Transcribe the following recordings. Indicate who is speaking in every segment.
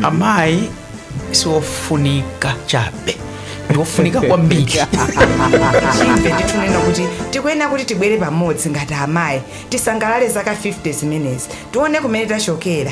Speaker 1: amayi siofunika chabe ndiofunika kwambiri chimene tikunena kuti tikuyenera kuti tibwere pamodzi ngati amayi tisangalale zaka 50 zimenezi tione kumene tachokera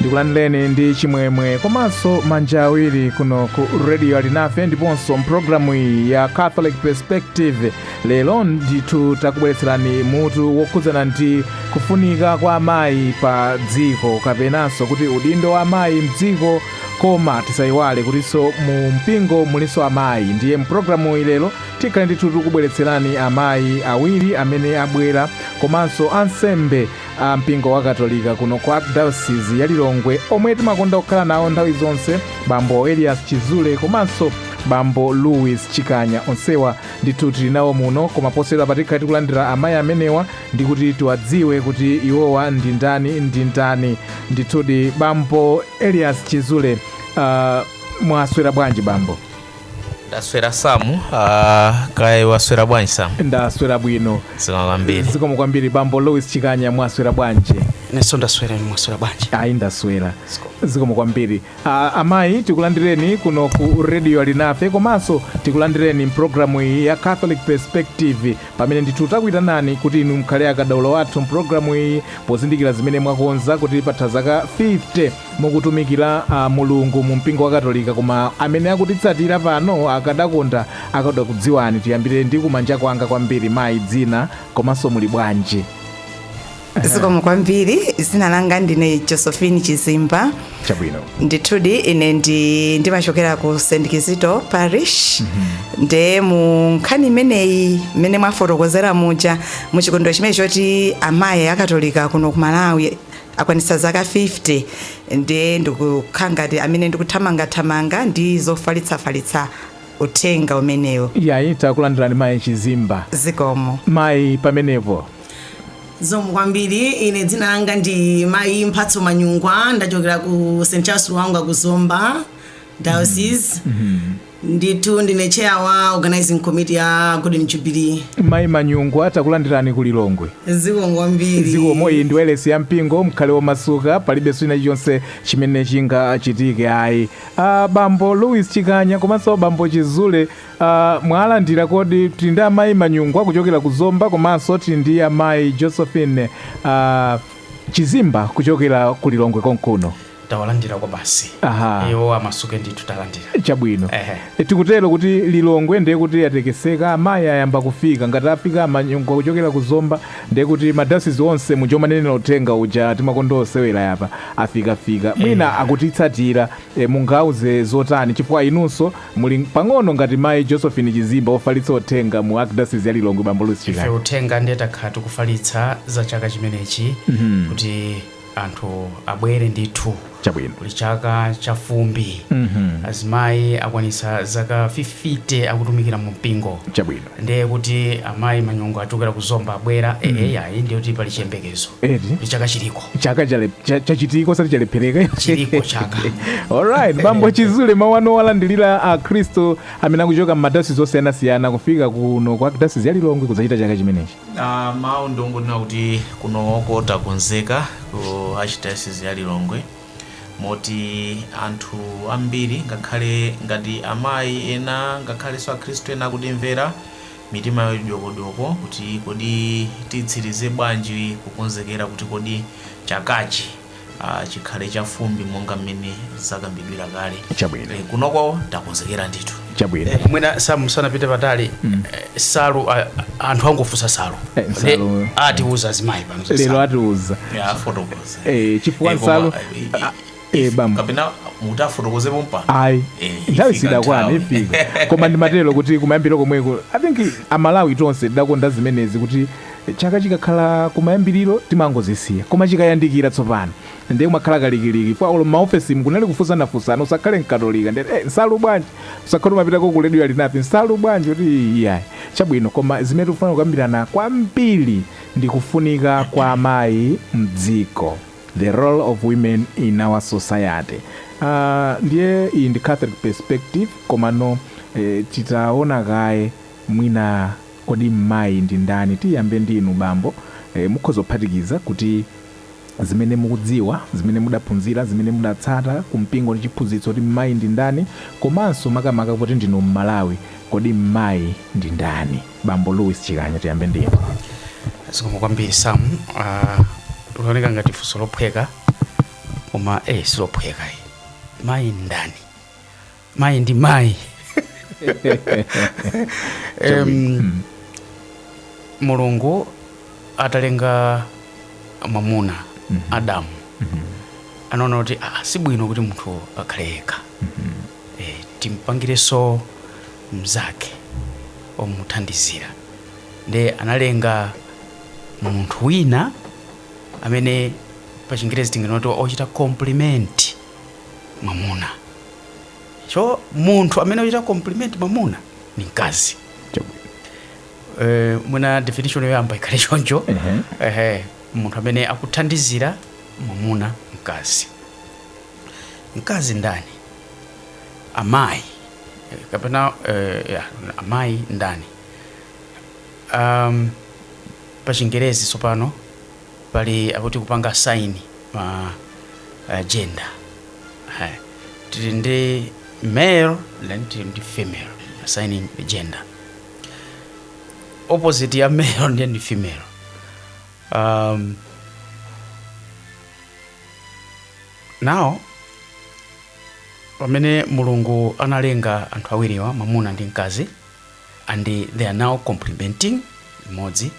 Speaker 1: ndikulandireni ndi chimwemwe komanso manja awiri kuno ku radio alinafe ndiponso mpulogalamu iyi ya catholic perspective lero ndithu takubweretserani mutu wokhudzana ndi kufunika kwa amayi pa dziko kapenanso kuti udindo wa amayi mdziko koma tisaiwale kutinso mu mpingo mulinso amayi ndiye mpulogalamuyi lero tikhale ndithu tikubweretserani amayi awiri amene abwera komanso ansembe a mpingo wa katolika kuno ku arkidayosizi ya lilongwe omwe timakonda kukhala nawo nthawi zonse bambo elias chizule komanso bambo louis chikanya onsewa ndithu tili nawo muno koma poserapa tikhale tikulandira amayi amenewa ndikuti tiwadziwe kuti iwowa ndi ndani ndi ndani ndithudi bambo Elias Chizule uh, mwaswera bwanji bambo? ndaswera samu uh, kaya waswera bwanji samu Ndaswera bwino. zikomo kwambiri Zikomo kwambiri bambo Louis Chikanya mwaswera bwanji? nenso ndaswera inu mwaswera bwanji Ayi ndaswera. Zikomo kwambiri. Uh, amayi tikulandireni kuno ku radio alinafe komanso tikulandireni mpulogalamu iyi ya Catholic Perspective pamene ndithu takuitanani kuti inu mukhale akadaulo athu mpulogalamu iyi pozindikira zimene mwakonza kuti patha zaka 50 mukutumikira mulungu mu mpingo wa katolika koma amene akutitsatira pano akadakonda akadakudziwani tiyambire ndi kumanja kwanga kwambiri mayi dzina komanso muli bwanji zikomo kwambiri dzina langa ndine josephine chizimba chabwino ndithudi ine ndi ndimachokera ku st kizito parish nde mu nkhani imeneyi mmene mwafotokozera muja mu chikondwero chimene choti amayi akatolika kuno ku malawi akwanitsa zaka 50 nde ndikukhala ngati amene ndikuthamangathamanga ndi zofalitsafalitsa uthenga umenewo yayi takulandirani mayi chizimba zikomo mayi pamenepo zikomo kwambiri ine dzina langa ndi mayi mphatso manyungwa ndachokera ku st charles luwanga ku zomba diocese ndithu ndine chair wa organizing committee ya golden jubilee mayi manyungwa takulandirani ku lilongwe zikomo kwambiri zikomo iyi ndi wailesi ya mpingo mkhale womasuka palibe china chilichonse chimene chingachitike ayi ah, bambo louis chikanya komanso bambo chizule Uh, mwalandira koti tili ndi amayi manyungwa kuchokera ku zomba komanso tili ndi amayi josephine uh, chizimba kuchokera ku lilongwe konkuno tawalandira kwa basi Aha. iwo amasuke ndithu talandira chabwino Ehe. E, tikutero kuti lilongwe ndiye kuti yatekeseka amayi ayamba kufika ngati afika a manyungwa kuchokera ku zomba ndiye kuti madayosizi onse muja umanenera uthenga uja timakonda osewera apa afikafika mwina akutitsatira E, mungauze zotani chifukwa inunso muli pano ngati mayi Josephine Chizimba ofalitsa uthenga mu Archdiocese ya Lilongwe bambo Louis Chikanya. ife uthenga ndiye takhala tikufalitsa za chaka chimenechi Mhm. kuti anthu abwere ndithu Chabwino. kuli chaka cha fumbi Mhm. azimayi akwanitsa zaka 50 akutumikira mu mpingo Chabwino. Ndiye kuti amayi manyungwa achokera ku Zomba abwera mm. ee ayi ndiye kuti pali chiyembekezo eti ndi chaka chiliko chaka chachitiko osati chalephereka chiliko chaka alright bambo chizule mawu anu walandilira akhristu amene akuchokera m'madayosizi osiyanasiyana kufika kuno ku archdayosizi ya lilongwe kudzachita chaka chimenechi uh, mawu ndongonena kuti kunoko takonzeka ku archdayosizi ya lilongwe Moti anthu ambiri, ngakhale ngati amayi ena ngakhalenso Akhristu ena akutimvera, mitima yawo ili dyokodyoko kuti kodi titsirize bwanji kukonzekera kuti kodi chakachi chikhale chafumbi monga mmene zakambidwira kale. Chabwino. Kunoko takonzekera ndithu. Chabwino. Mwina Sam sanapite patali, nsalu, a- anthu akufunsa nsalu. Eh, Nde nsalu. atiuza azimayi pano za lero nsalu. atiuza Ya, afotokoza. eh chifukwa Eh, koma, nsalu eh, ah, eh bam kapena mutafotokozepo mpano ayi Eh, nthawi ifika siinakwane nthawi. ifika koma ndimatero kuti kumayambiriro komweko i think amalawi tonse timakonda zimenezi kuti chaka chikakhala kumayambiriro timangozisiya koma chikayandikira tsopano ndiye kumakhala kalikiliki pa olo maofesi mkunali kufunsanafunsana usakhale mkatolika ndi eh, nsalu bwanji usakhale umapitako ku redio alinafe nsalu bwanji kuti iyayi chabwino koma zimene tikufuna kukambirana kwambiri ndi kufunika kwa mayi mdziko, the role of women in our society, aah ndiye iyi ndi Catholic perspective komano eeh titaona kaye mwina kodi mmayi ndi ndani, tiyambe ndi inu bambo eeh mukhoza kuphatikiza kuti zimene mukudziwa, zimene mudaphunzira, zimene mudatsata ku mpingo ndi chiphunzitso kuti mmayi ndi ndani komanso makamaka poti ndinu mMalawi kodi mmayi ndi ndani? bambo louis chikanya tiyambe ndinu zikomo kwambiri sam Ah, likuoneka ngati funso lophweka koma eh silophweka eh. mayi ndani mayi ndi mayi Em, mulungu atalenga mwamuna adamu anaona kuti ah, si bwino kuti munthu akhale yekha Eh, timpangirenso mnzake omuthandizira nde analenga munthu wina amene pa chingerezi tinganene kuti ochita compliment mwamuna so munthu amene ochita compliment mwamuna ni mkazi Eh, mwina definition yoyamba ikhale choncho ehe munthu amene akuthandizira mwamuna mkazi mkazi ndani amayi eh, kapena eh, ya, amayi ndani um, pa chingerezi tsopano pali kuti akupanga assign ma uh, gender Eh, tili ndi male then tili ndi female assigning the gender opposite ya male ndiye ndi female um, Now, pamene mulungu analenga anthu awiriwa mwamuna ndi mkazi and they are now complementing mmodzi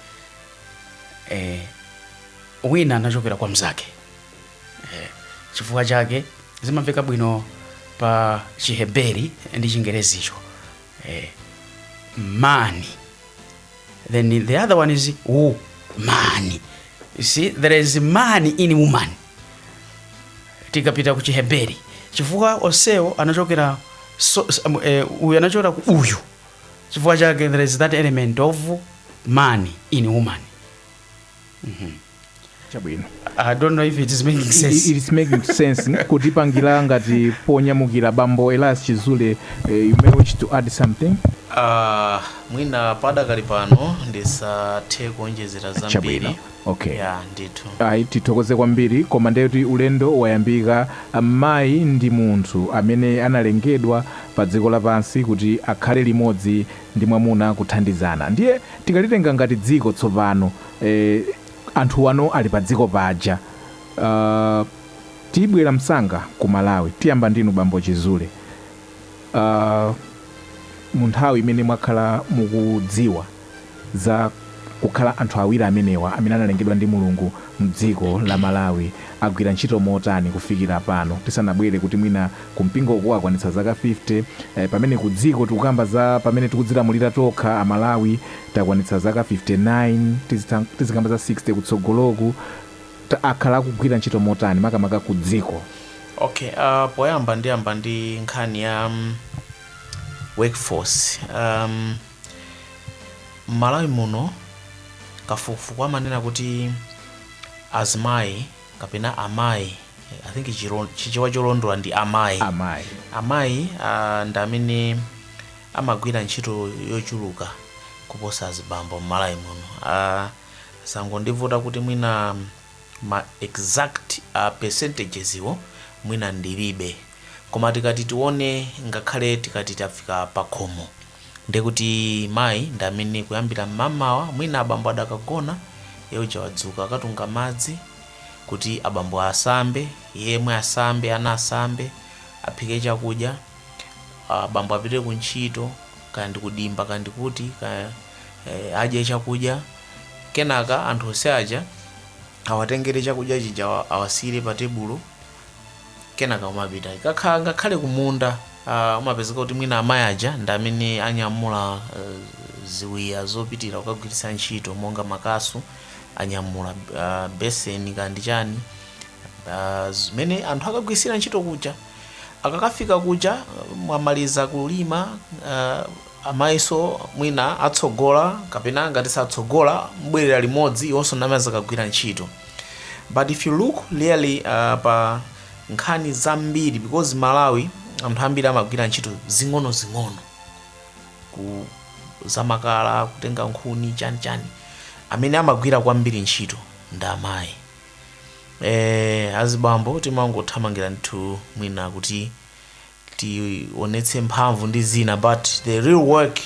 Speaker 1: eh, wina anachokera kwa mzake eh, chifukwa chake zimamveka bwino pa chiheberi ndi chingerezicho eh, man then the other one is woman you see there is man in woman tikapita ku chiheberi chifukwa onsewo anachokera so, s- um, eh, uyu anachokera ku uyu chifukwa chake there is that element of man in woman chabwino i don't know if it is making sense It is making sense kutipangira ngati ponyamukira bambo elias chizule eh, you may wish to add something Ah, mwina padakali pano ndisathe kuonjezera zambiri chabwino okay ya ndithu ayi tithokoze kwambiri koma ndekuti ulendo wayambika mayi ndi munthu amene analengedwa pa dziko lapansi kuti akhale limodzi ndi mwamuna kuthandizana ndiye tikalitenga ngati dziko tsopano eh, anthuwa ano ali pa dziko paja uh, tibwere msanga ku malawi tiyambe ndinu bambo chizule uh, mu nthawi imene mwakhala mukudziwa za kukhala anthu awiri amenewa amene analengedwa ndi Mulungu mdziko la Malawi agwira ntchito motani kufikira pano tisanabwere kuti mwina ku mpingoku akwanitsa zaka 50 pamene ku dziko tikukamba za pamene tikudzilamulira tokha a Malawi takwanitsa zaka 59 tizi- tizikamba za 60 kutsogoloku ta- akhala akugwira ntchito motani makamaka ku dziko okay uh, poyamba ndiyambe ndi nkhani ya um, workforce um, M'Malawi muno kafukufuku amanena kuti azimayi kapena amayi I think chilo- chichewa cholondola ndi amayi amayi amayi ah, ndi amene amagwira ntchito yochuluka kuposa azibambo m'malawi muno Ah, zangondivuta kuti mwina ma exact ah, percentages iwo mwina ndilibe koma tikati tione ngakhale tikati tafika pakhomo Ndiye kuti mayi ndi amene kuyambira mmamawa mwina abambo adakagona, iye uja wadzuka akatunga madzi kuti abambo asambe, iye yemwe asambe, ana asambe, aphike chakudya, abambo apite ku ntchito, kaya ndi ku dimba, kaya ndi kuti, kaya eh, adye chakudya. Kenaka anthu onse aja awatengere chakudya chija awa- awasiyire pa tebulo. kenaka umapita ikakhala ngakhale kumunda uh, umapezeka kuti mwina amayi aja ndi amene anyamula uh, ziwiya zopitira kukagwiritsa ntchito monga makasu anyamula uh, beseni kaya ndi chani uh, zimene anthu akagwiritsire ntchito kuja akakafika kuja mwamaliza kulima uh, Amayinso mwina atsogola kapena ngati satsogola mubwerera limodzi iwonso mumakagwira ntchito but if you look really pa nkhani zambiri because Malawi anthu ambiri amagwira ntchito zing'onozing'ono kuza makala kutenga nkhuni chani chani amene amagwira kwambiri ntchito ndi amayi eh azibambo timangothamangira ndithu mwina kuti tionetse mphamvu ndi zina but the real work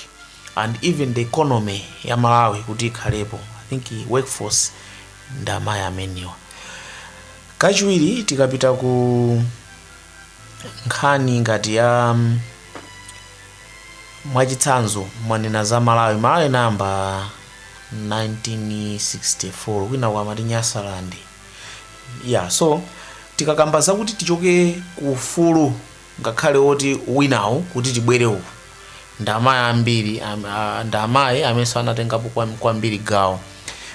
Speaker 1: and even the economy ya malawi kuti ikhalepo i think workforce ndi amayi amenewa kachiwiri tikapita ku nkhani ngati ya um, mwachitsanzo mwanena za malawi malawi inayamba 1964 kwinaku amati Nyasaland ya so tikakamba zakuti tichoke ku ufulu ngakhale woti winawu kuti tibwere uku ndi amayi ambiri am- a- ndi amayi amenenso anatengapo kwam- kwambiri gawo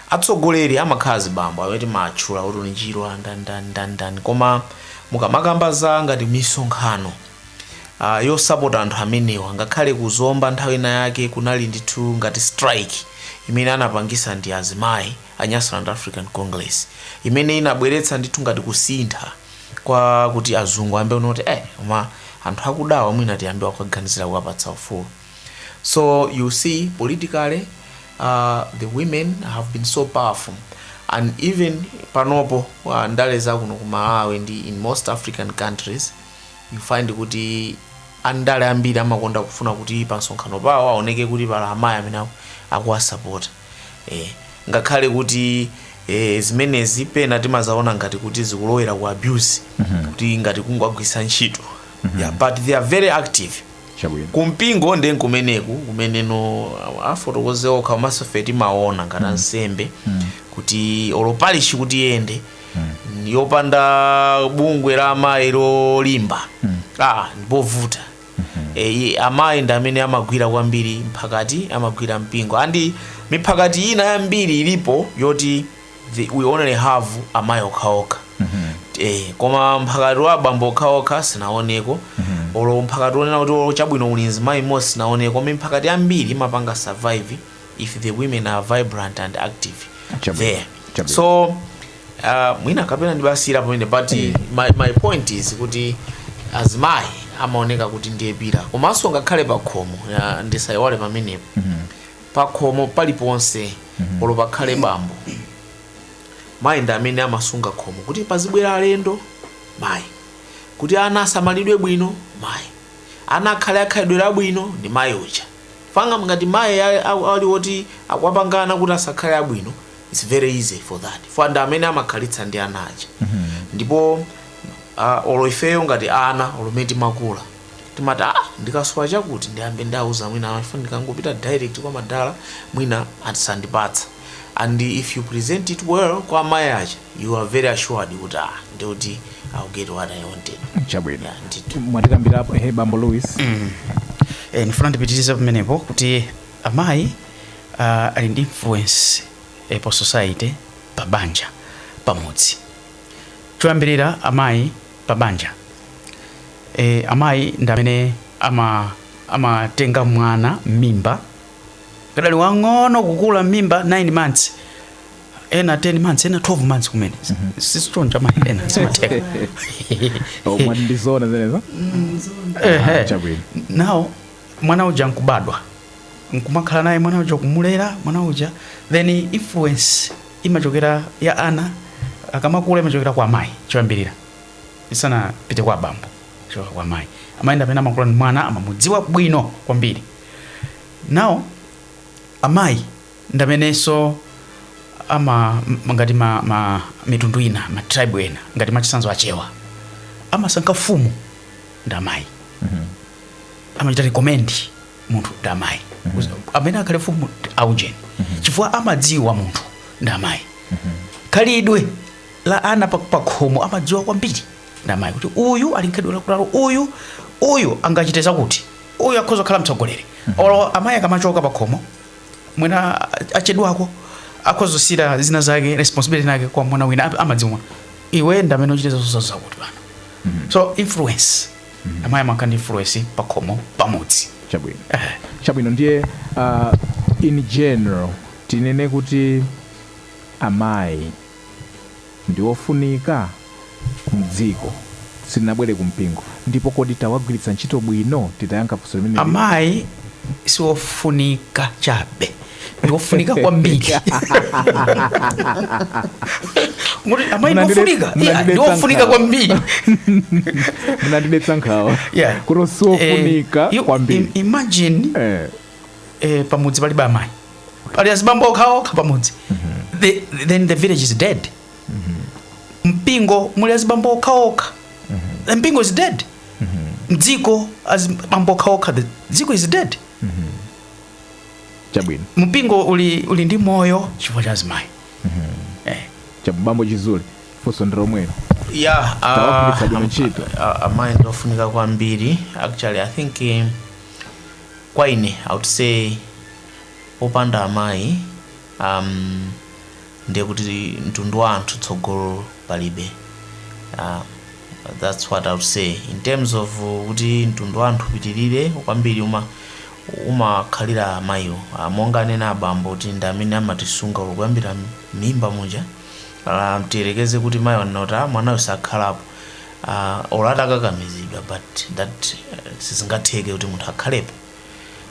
Speaker 1: atsogoleri amakhala azibambo amene timatchula kuti uyu Chirwa ndani ndani ndani koma mukamakamba za ngati misonkhano uh, yosapota anthu amenewa ngakhale ku Zomba nthawi ina yake kunali ndithu ngati strike imene anapangisa ndi azimayi a Nyasaland African Congress imene inabweretsa ndithu ngati kusintha kwakuti azungu ayambe kuona kuti eh koma anthu akudawa mwina tiyambe kuwaganizira kuwapatsa ufulu so you see politically uh, the women have been so powerful and even panopo uh, ndale zakuno ku malawi ndi in most african countries you find kuti andale ambiri amakonda kufuna kuti pa msonkhano pawo aoneke kuti pali amayi amene aku- akuwasapota e ngakhale kuti e, zimenezi pena timazaona ngati kuti zikulowera ku abuse kuti ngati kungowagwiritsa ntchito yeah, but they are very active chabwino kumpingo ndiye nkumeneku kumeneno afotokoze okha komanso ife timaona ngati ansembe kuti olo parishi kuti iyende yopanda bungwe la amayi lolimba ah ndipovuta eyi amayi ndi amene amagwira kwambiri mphakati amagwira mpingo and miphakati ina yambiri ilipo yoti the, we only have amayi okhaokha eh, koma mphakati wa abambo okhaokha sinaoneko olo mphakati onena kuti olo chabwino uli mzimayi mmodzi sinaoneko koma miphakati yambiri imapanga survive if the women are vibrant and active Chabwino, there chabwino. so uh, mwina kapena ndibatsira pamene but my, my point is kuti azimayi amaoneka kuti ndi opirira komanso ngakhale pakhomo ya, ndisayiwale pamenepo pakhomo paliponse olo pakhale bambo mayi ndi amene amasunga khomo kuti pazibwera alendo mayi kuti ana asamalidwe bwino mayi ana akhale akhalidwe labwino ndi mayi uja Paja ngati mayi a a ali woti akuwapanga ana kuti asakhale abwino it's very easy for that chifukwa ndi amene amakhalitsa ndi ana aja ndipo a, olo ifeyo ngati ana olo mmene timakula timati ah ndikasowa chakuti ndiyambe ndauza mayi awa chifukwa ndikangopita direct kwa madala mwina asandipatsa And if you present it well kwa amayi aja you are very assured kuti ah ndi kuti I'll get what I wanted. chabwino Yeah, ndithu. mutikambirapo ehe bambo louis e, ndifuna ndipitirize pamenepo kuti amayi uh, ali ndi influence e, pa society pa banja pamudzi choyambirira amayi pa banja e, amayi ndi amene ama amatenga mwana mmimba kadali wang'ono kukula mmimba 9 months ena 10 months ena 12 months kumene sisitonja mayi ena sizimatheka Oh, mwati ndi zona zimenezo Ehe. chabwino nawo mwana uja nkubadwa nkumakhala naye mwana uja kumulera mwana uja then influence imachokera ya ana akamakula imachokera kwa amayi choyambirira isanapite kwa abambo imachoka kwa amayi amayenda pena amakula ndi mwana amamudziwa bwino kwambiri Nawo amayi ndamenenso ama m- ngati ma, ma mitundu ina ma tribe ena ngati mwachitsanzo achewa amasankha fumu ndi amayi amachita recommend munthu ndi amayi amene akhale fumu ndi aujeni chifukwa amadziwa munthu ndi amayi khalidwe la ana pa- pakhomo amadziwa kwambiri ndi amayi kuti uyu ali nkhalidwe lakutilo uyu uyu angachite zakuti uyu akhoza kukhala mtsogoleri olo amayi akamachoka pakhomo mwina a- achedwako akhoza kusiyira zina zake responsibility nake kwa mwana wina am- amadziwa iwe ndamene uchite zonsezo zakuti pano so influence amayi amakhala ndi influence pakhomo pamudzi chabwino chabwino ndiye uh, in general tinene kuti amayi ndi ofunika mdziko. Sitinabwere ku mpingo, ndipo kodi tikuwagwiritsa ntchito bwino titayankha funso limeneli? Amayi si ofunika chabe, ndi ofunika kwambiri. Muti amayi ndi Munandide- ofunika? Yeah, ndi munandidetsa ofunika nkhawa. kwambiri. Munandidetsa nkhawa Yeah. kuti si Eh, ofunika you- kwambiri. im- Imagine Eh. eh, pamudzi palibe amayi pali azibambo okhaokha pamudzi the, then the village is dead mpingo muli azibambo okhaokha the mpingo is dead mdziko azibambo okhaokha the dziko is dead chabwino mpingo uli, uli ndi moyo chifukwa cha azimayi eh. abambo chizule funso ndi lomwelo yeah, ah, Tawagwiritsa bwino ntchito. ah, amayi ndi ofunika kwambiri actually i think eh, kwa ine i would say popanda amayi um, ndiye kuti mtundu wa anthu tsogolo palibe uh, that's what i would say in terms of uh, kuti mtundu wa anthu upitirire kwambiri uma umakhalira amayiwo uh, monga anena abambo kuti ndi amene amatisunga kuyambira mimba muja uh, tiyerekeze kuti mayi wanena kuti "Ah, mwanayo sakhalapo uh, olo atakakamizidwa but that uh, sizingatheke kuti munthu akhalepo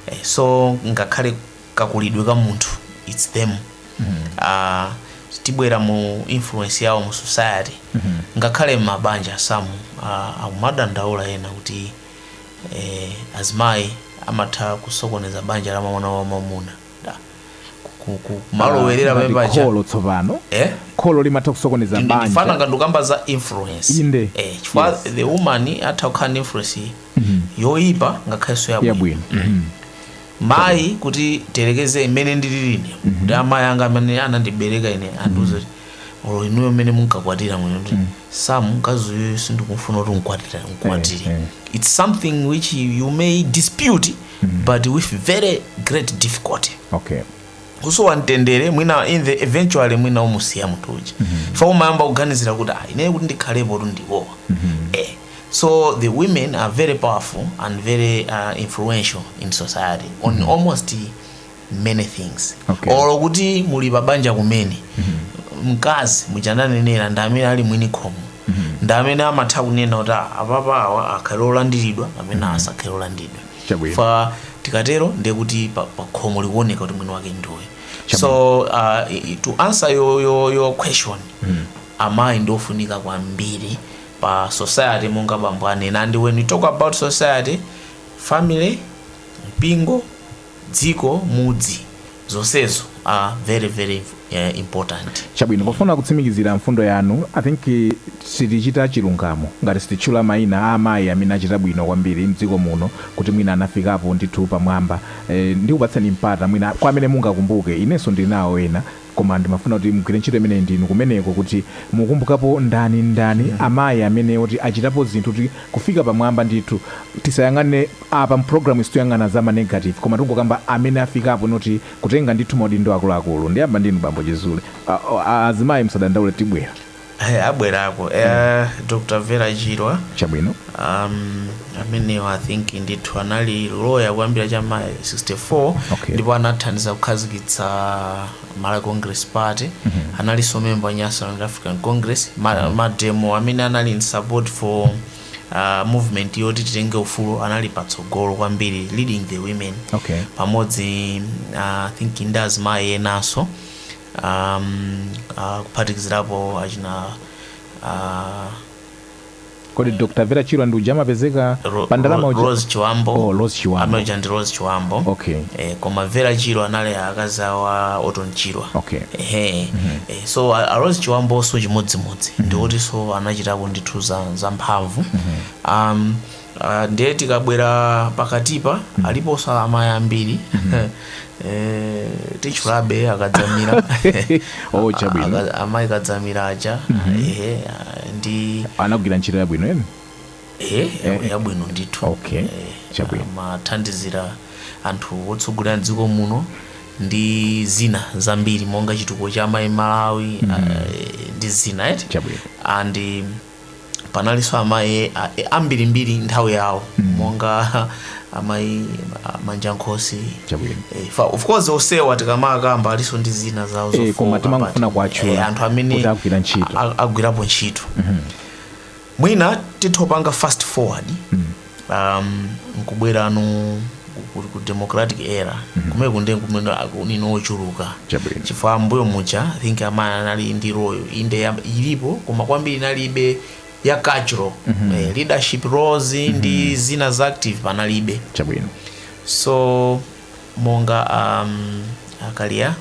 Speaker 1: eh, so ngakhale kakulidwe ka munthu its them uh, tibwera mu influence yawo mu society ngakhale mabanja samu uh, akumadandaula ena kuti eh, azimayi amatha kusokoneza banja la mwana wa mamuna ku- ku- ku- kumalowerera Ngati pamene paja kholo tsopano Eh? kholo limatha kusokoneza Ndi- ndifana banja ngati ukamba za influence Inde. eh, chifukwa Yes. the woman atha kukhala ndi influence yoyipa ngakhalenso yabwino yabwino Mhm. mayi kuti tiyerekeze mmene ndilili ine kuti amayi anga amene anandibereka ine andiuza kuti olo inuyo mmene munkakwatira mwina kuti some mkazi uyu sindikumfuna kuti ndikwatira ndikwatire Eh, eh. its something which you may dispute but with very great difficulty okay kusowa mtendere mwina in the eventually mwina umusiya munthu uja chifukwa umayamba kuganizira kuti ah, ineyo kuti ndikhalepotu ndiwowa eh. so the women are very powerful and very uh, influential in society on almost many things Okay. olo kuti muli pabanja kumene mkazi mu chiyankhulo chonenera ndi amene ali mwini khomo ndi amene amatha kunena kuti "Ah, apapa awa akhale olandiridwa amenewa asakhale olandiridwa Chabwino. chifukwa tikatero ndiye kuti pa- pa khomo likuoneka kuti mwini wake ndiwe so uh, i- i- to answer your, your, your question amayi ndiofunika kwambiri pa society monga bambo anena and we talk about society family mpingo dziko, mudzi, zonsezo are very very important. Chabwino, pofuna kutsimikizira mfundo yanu, I think sitichita chilungamo ngati sititchula maina a amayi amene achita bwino kwambiri mdziko muno kuti mwina anafikapo ndithu pamwamba. Ndikupatseni mpata mwina kwa amene mungakumbuke, inenso ndili nawo ena. Koma ndimafuna kuti mugwire ntchito imeneyi ndinu kumeneko kuti mukumbukapo ndani ndani amayi amene woti achitapo zinthu kuti kufika pamwamba ndithu tisayang'ane apa mu programuyi sitikuyang'ana za ma negative koma tingokamba amene afikapo poti kutenga ndithu maudindo akuluakulu ndiyamba ndinu bambo chizule a azimayi musadandaule tibwera Eya, abwerako eh, dr vera chirwa chabwino um, amenewa i think ndithu anali loya kuyambira cha ma 64 Okay. ndipo anathandiza kukhazikitsa malawi congress party analinso memba wa nyasaland african congress ma, mademo amene anali in support for uh, movement yoti titenge ufulu anali patsogolo kwambiri leading the women okay pamodzi uh, I think ndi azimayi enanso um, uh, kuphatikizirapo achina uh, kodi dr vera chirwa ndi uja amapezeka Ro- pa ndalama Ro- uja Rose Chibambo Oh, Rose Chibambo. amene uja ndi Rose Chibambo Okay. eh, koma Vera Chirwa anali akazi awo a Orton Chirwa Okay. ehe eh, so a, a Rose Chibambonso chimodzimodzi ndi otinso anachitako ndithu za, za mphamvu um, Ndiye tikabwera pakatipa aliponso amayi ambiri Eh, titchulabe a Kadzamira Oh, chabwino. A Ka- amayi kadzamira aja ehe, ah, ndi anagwira ntchito yabwino emi ehe, ya- yabwino ndithu Okay, Eh, chabwino. amathandizira anthu otsogolera mdziko muno ndi zina zambiri monga chitukuko cha amayi m'malawi ah, ndi zina eti Chabwino. and panalinso amayi a- e- ambirimbiri nthawi yawo monga amayi a- manja nkhosi Chabwino. Eh, fa- of course osewa tikamawakamba alinso ndi zina zawo Eh, zofowoka, koma timangofuna but, kuwatchula eh, anthu amene kuti agwira ntchito. a- a- agwirapo ntchito mwina titha kupanga fast forward um, nkubwera kuno ku- ku- ku democratic era kumene kunde kumene aliko ochuluka Chabwino. chifukwa mmbuyo muja I think amayi anali ndi role inde ya- ilipo koma kwambiri inalibe ya cultural eh, leadership roles ndi zina za active panalibe chabwino so monga um, a Kaliya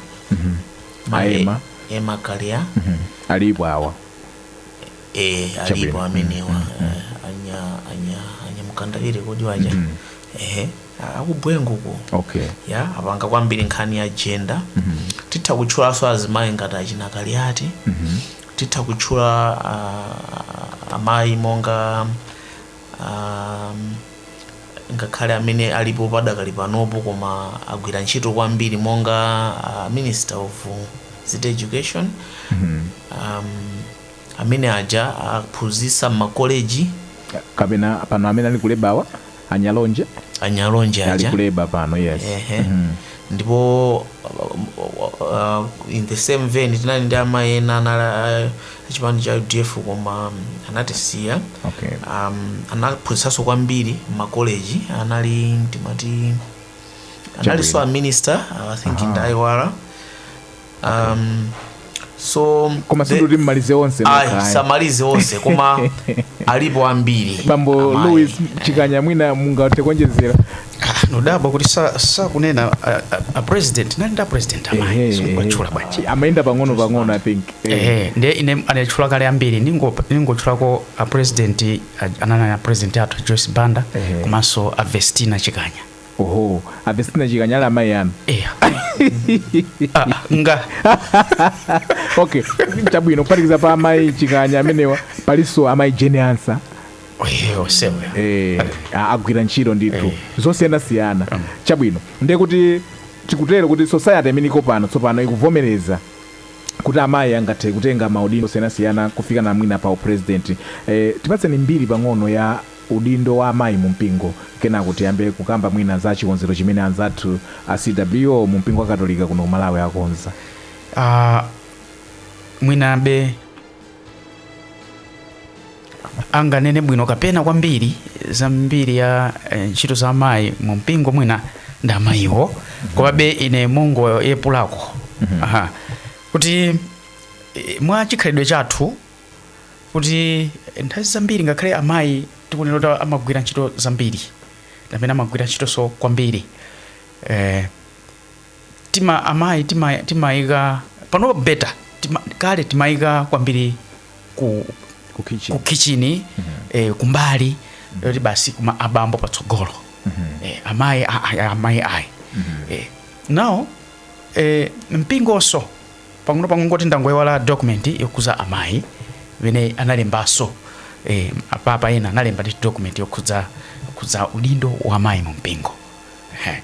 Speaker 1: Maye- A Emma. Emma Kaliya alipo awa eh alipo Chabwino. amenewa eh, anya anya anya Mkandawire kodi waja ehe a- akubwenguko okay ya apanga kwambiri nkhani ya gender titha kutchulanso azimayi ngati achina Kaliati titha kutchula ah, amayi monga um, ngakhale amene alipo padakali panopo koma agwira ntchito kwambiri monga uh, minister of state education um, amene aja anaphunzitsa mmakoleji. kapena pano amene ali ku labour-wa a NyaLonje a NyaLonje ali aja ku labour pano yes Ehe. ndipo uh, in the same vein tinali ndi amayi ena anali uh, chipani cha udf koma um, anatisiya okay um, anaphunzitsanso kwambiri mmakoleji anali timati analinso a minister uh, i think ndaiwala um, so koma the- sikuti mumalize onse ayi nokha, ayi. samalize onse koma alipo ambiri bambo Amayi. louis chikanya mwina mungathe kuonjezera Ah, ndadabwa kuti sa- sakunena a- a- a president anali ndi a president Ehe, amayi simukuwatchula bwanji amayenda pang'ono pang'ono i think Eh. ehe ndiye ine anatchula kale ambiri ningo- ningotchulako a president a- anali a president athu joyce banda Ehe. komanso a vestina chikanya oho a vestina chikanya ali amayi anu eya Ah, nga okay chabwino kuphatikiza pa amayi chikanya amenewa palinso amayi Jane Ansah Eh, osewe eh, a- agwira ntchito ndithu Eh. zosiyanasiyana chabwino ndiye kuti tikutero kuti society imene iko pano tsopano ikuvomereza kuti amayi angathe kutenga maudindo osiyanasiyana kufika na mwina pa upresident eh, tipatseni mbiri pang'ono ya udindo wa amayi mu mpingo kenako tiyambe kukamba mwina za chikonzero chimene anzathu a CWO mu mpingo wa katolika kuno ku Malawi akonza. Ah, mwinabe anganene bwino kapena kwambiri za mbiri ya eh, ntchito za amayi mu mpingo mwina ndi amayiwo komabe ine mongopepulako Aha. kuti eh, mwa chikhalidwe chathu kuti nthawi zambiri ngakhale amayi tikunena kuti amagwira ntchito zambiri amene amagwira ntchitonso kwambiri eh, tima amayi tima- timayika pano better tima, kale timayika kwambiri ku, ku kitchen ku kitchini eh, kumbali koti basi kuma abambo patsogolo eh, amayi a- a- amayi ayi eh, now eh, mpingonso pang'ono pang'ono kungoti ndangoiwala document yokhudza amayi imene analembanso eh, apapa ena analemba ndi document yokhudza yokhudza udindo wa amayi mu mpingo eh.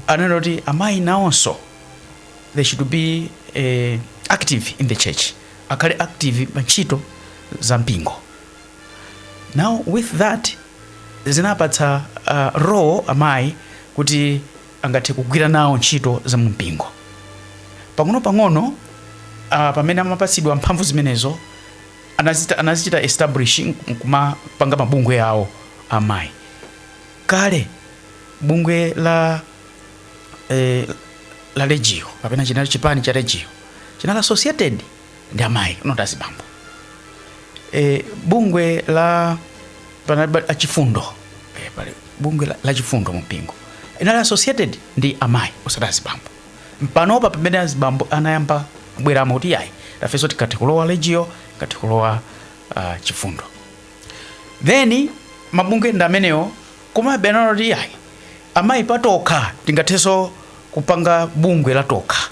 Speaker 1: anena kuti amayi nawonso they should be eh, active in the church akhale active pa ntchito za mpingo now with that zinapatsa uh, role amayi kuti angathe kugwira nawo ntchito za mu mpingo. Pang'onopang'ono, a, pamene amapatsidwa mphamvu zimenezo, anazita, anazichita establish nkumapanga mabungwe awo amayi. Kale bungwe la eh, la Legio kapena chinali chipani cha Legio chinali associated ndi amayi not azibambo e, bungwe la panali pa- achifundo e, pali bungwe la, la chifundo mu mpingo inali associated ndi amayi osati azibambo ndi panopa pamene azibambo anayamba kubweramo kuti yayi tafenso tikathe kulowa legio tikathe kulowa uh, chifundo ndiye mabungwe ndi amenewo komabe anaona kuti yayi amayi patokha tingathenso kupanga bungwe lathu tokha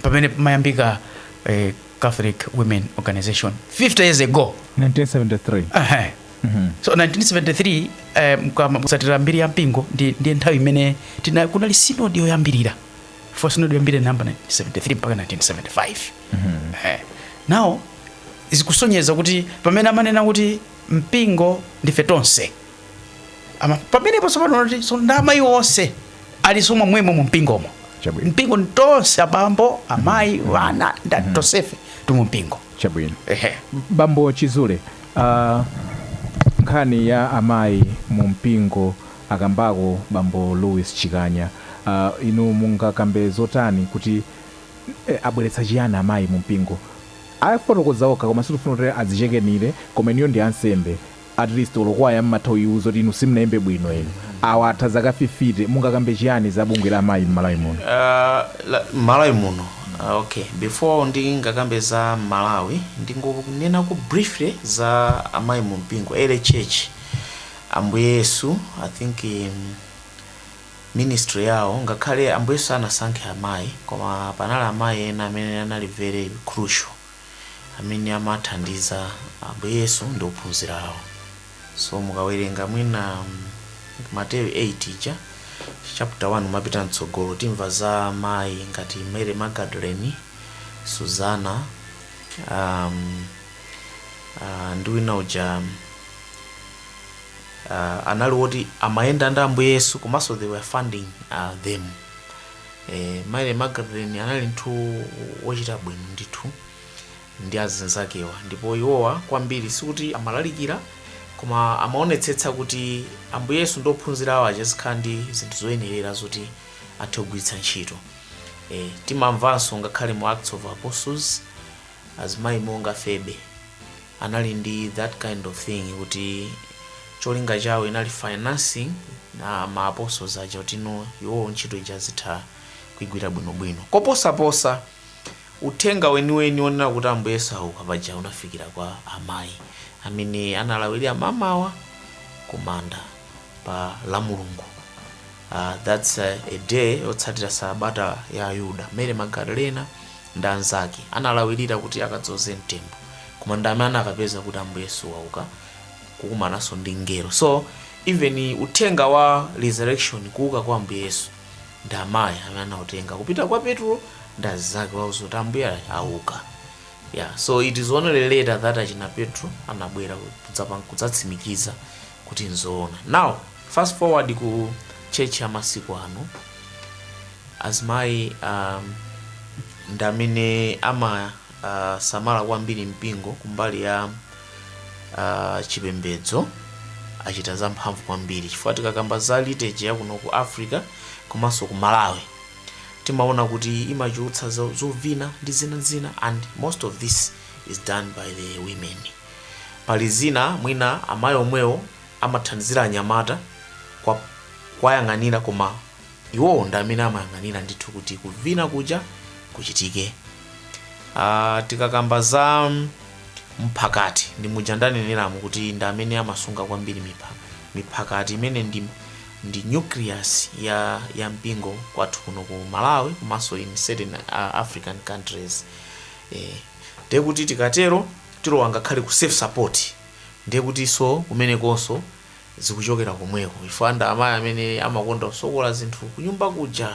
Speaker 1: pamene pamayambika eh, catholic women organization 50 years ago 1973 Aha. so 1973 eh, mkama- kutsatira mbiri ya mpingo ndi, ndi nthawi imene tina- kunali sinodi yoyambirira first sinodi yoyambirira mu ma 1973 mpaka 1975 Eh, now zikusonyeza kuti pamene amanena kuti mpingo ndife tonse Ama- pamenepo tsopano nati so ndi amayi onse alinso mwa momwemo mu mpingomo Chabwino. mpingo ndi tonse abambo amayi wana ndani tonsefe tili mu mpingo chabwino ehe bambo chizule uh, nkhani ya amayi mu mpingo akambako bambo louis chikanya uh, inu mungakambe zotani kuti eh, abweretsa chiyani amayi mu mpingo afotokoza okha koma sitifuna kuti adzichemerere koma inuyo ndi ansembe At least olo kwaya mumatha kuiuza kuti inu simunaimbe bwino inu. Awa atha zaka fifite mungakambe chiyani za bungwe la amayi mmalawi muno? Uh, la, malawi muno uh, okay before ndingakambe za malawi ndingonenako briefly za amayi mu mpingo early church ambuye yesu i think um, ministry yawo ngakhale ambuye yesu sanasankhe amayi koma panali amayi ena amene anali very crucial amene amathandiza Ambuye Yesu ndi ophunzira awo. So mukawerenga mwina Mateyu 8 ija chapter 1 kumapita mtsogolo timva za mayi ngati Mary Magdalene, Suzana um, uh, ndi wina uja uh, anali woti amayenda ndi Ambuye Yesu komanso they were funding uh, them Eh, Mary Magdalene anali munthu wochita bwino ndithu ndi azinzakewa ndipo iwowa kwambiri sikuti amalalikira koma amaonetsetsa kuti ambuye yesu ndi ophunzira awo aja azikhala ndi zinthu zoyenerera zoti athe kugwiritsa ntchito eh, timamvanso ngakhale mu acts of apostles azimayi monga febe anali ndi that kind of thing kuti cholinga chawo inali financing ya ma apostles aja kuti no iwowo ntchito ija azitha kuigwira bwinobwino koposaposa uthenga weniweni onena kuti ambuye yesu auka paja unafikira kwa amayi amene analawirira mamawa kumanda pa la mulungu Uh, that's a, a day yotsatira sabata ya Ayuda. Mary Magdalena ndi anzake analawirira kuti akadzoze mtembo, koma ndi amene anakapeza kuti Ambuye Yesu wauka kukumananso ndi mngelo. So even uthenga wa resurrection, kuuka kwa Ambuye Yesu, ndi amayi amene anautenga kupita kwa Petro ndi anzake kuwauza kuti Ambuye auka. Yeah, so it is only later that achina Petro anabwera kudzapa- kudzatsimikiza kuti nzoona. Now fast forward ku church ya masiku ano, azimayi um, ndi amene amasamala uh, kwambiri mpingo kumbali ya uh, chipembedzo achita zamphamvu kwambiri chifukwa tikakamba za liturgy ya kuno ku africa komanso ku malawi timaona kuti imachulutsa zo- zovina ndi zina zina and most of this is done by the women Pali zina mwina amayi omwewo amathandizira anyamata kwa kuwayang'anira koma iwowo ndi amene amayang'anira ndithu kuti kuvina kuja kuchitike uh, tikakamba za mphakati ndi muja ndaneneramu kuti ndi amene amasunga kwambiri mipha, miphakati imene ndi, ndi nucleus ya, ya mpingo kwathu kuno ku malawi komanso in certain uh, african countries eh, ndiye kuti tikatero tilowa ngakhale ku self support ndiye kutinso kumenekonso zikuchokera komweko chifukwa ndi amayi amene amakonda kusonkha zinthu kunyumba kuja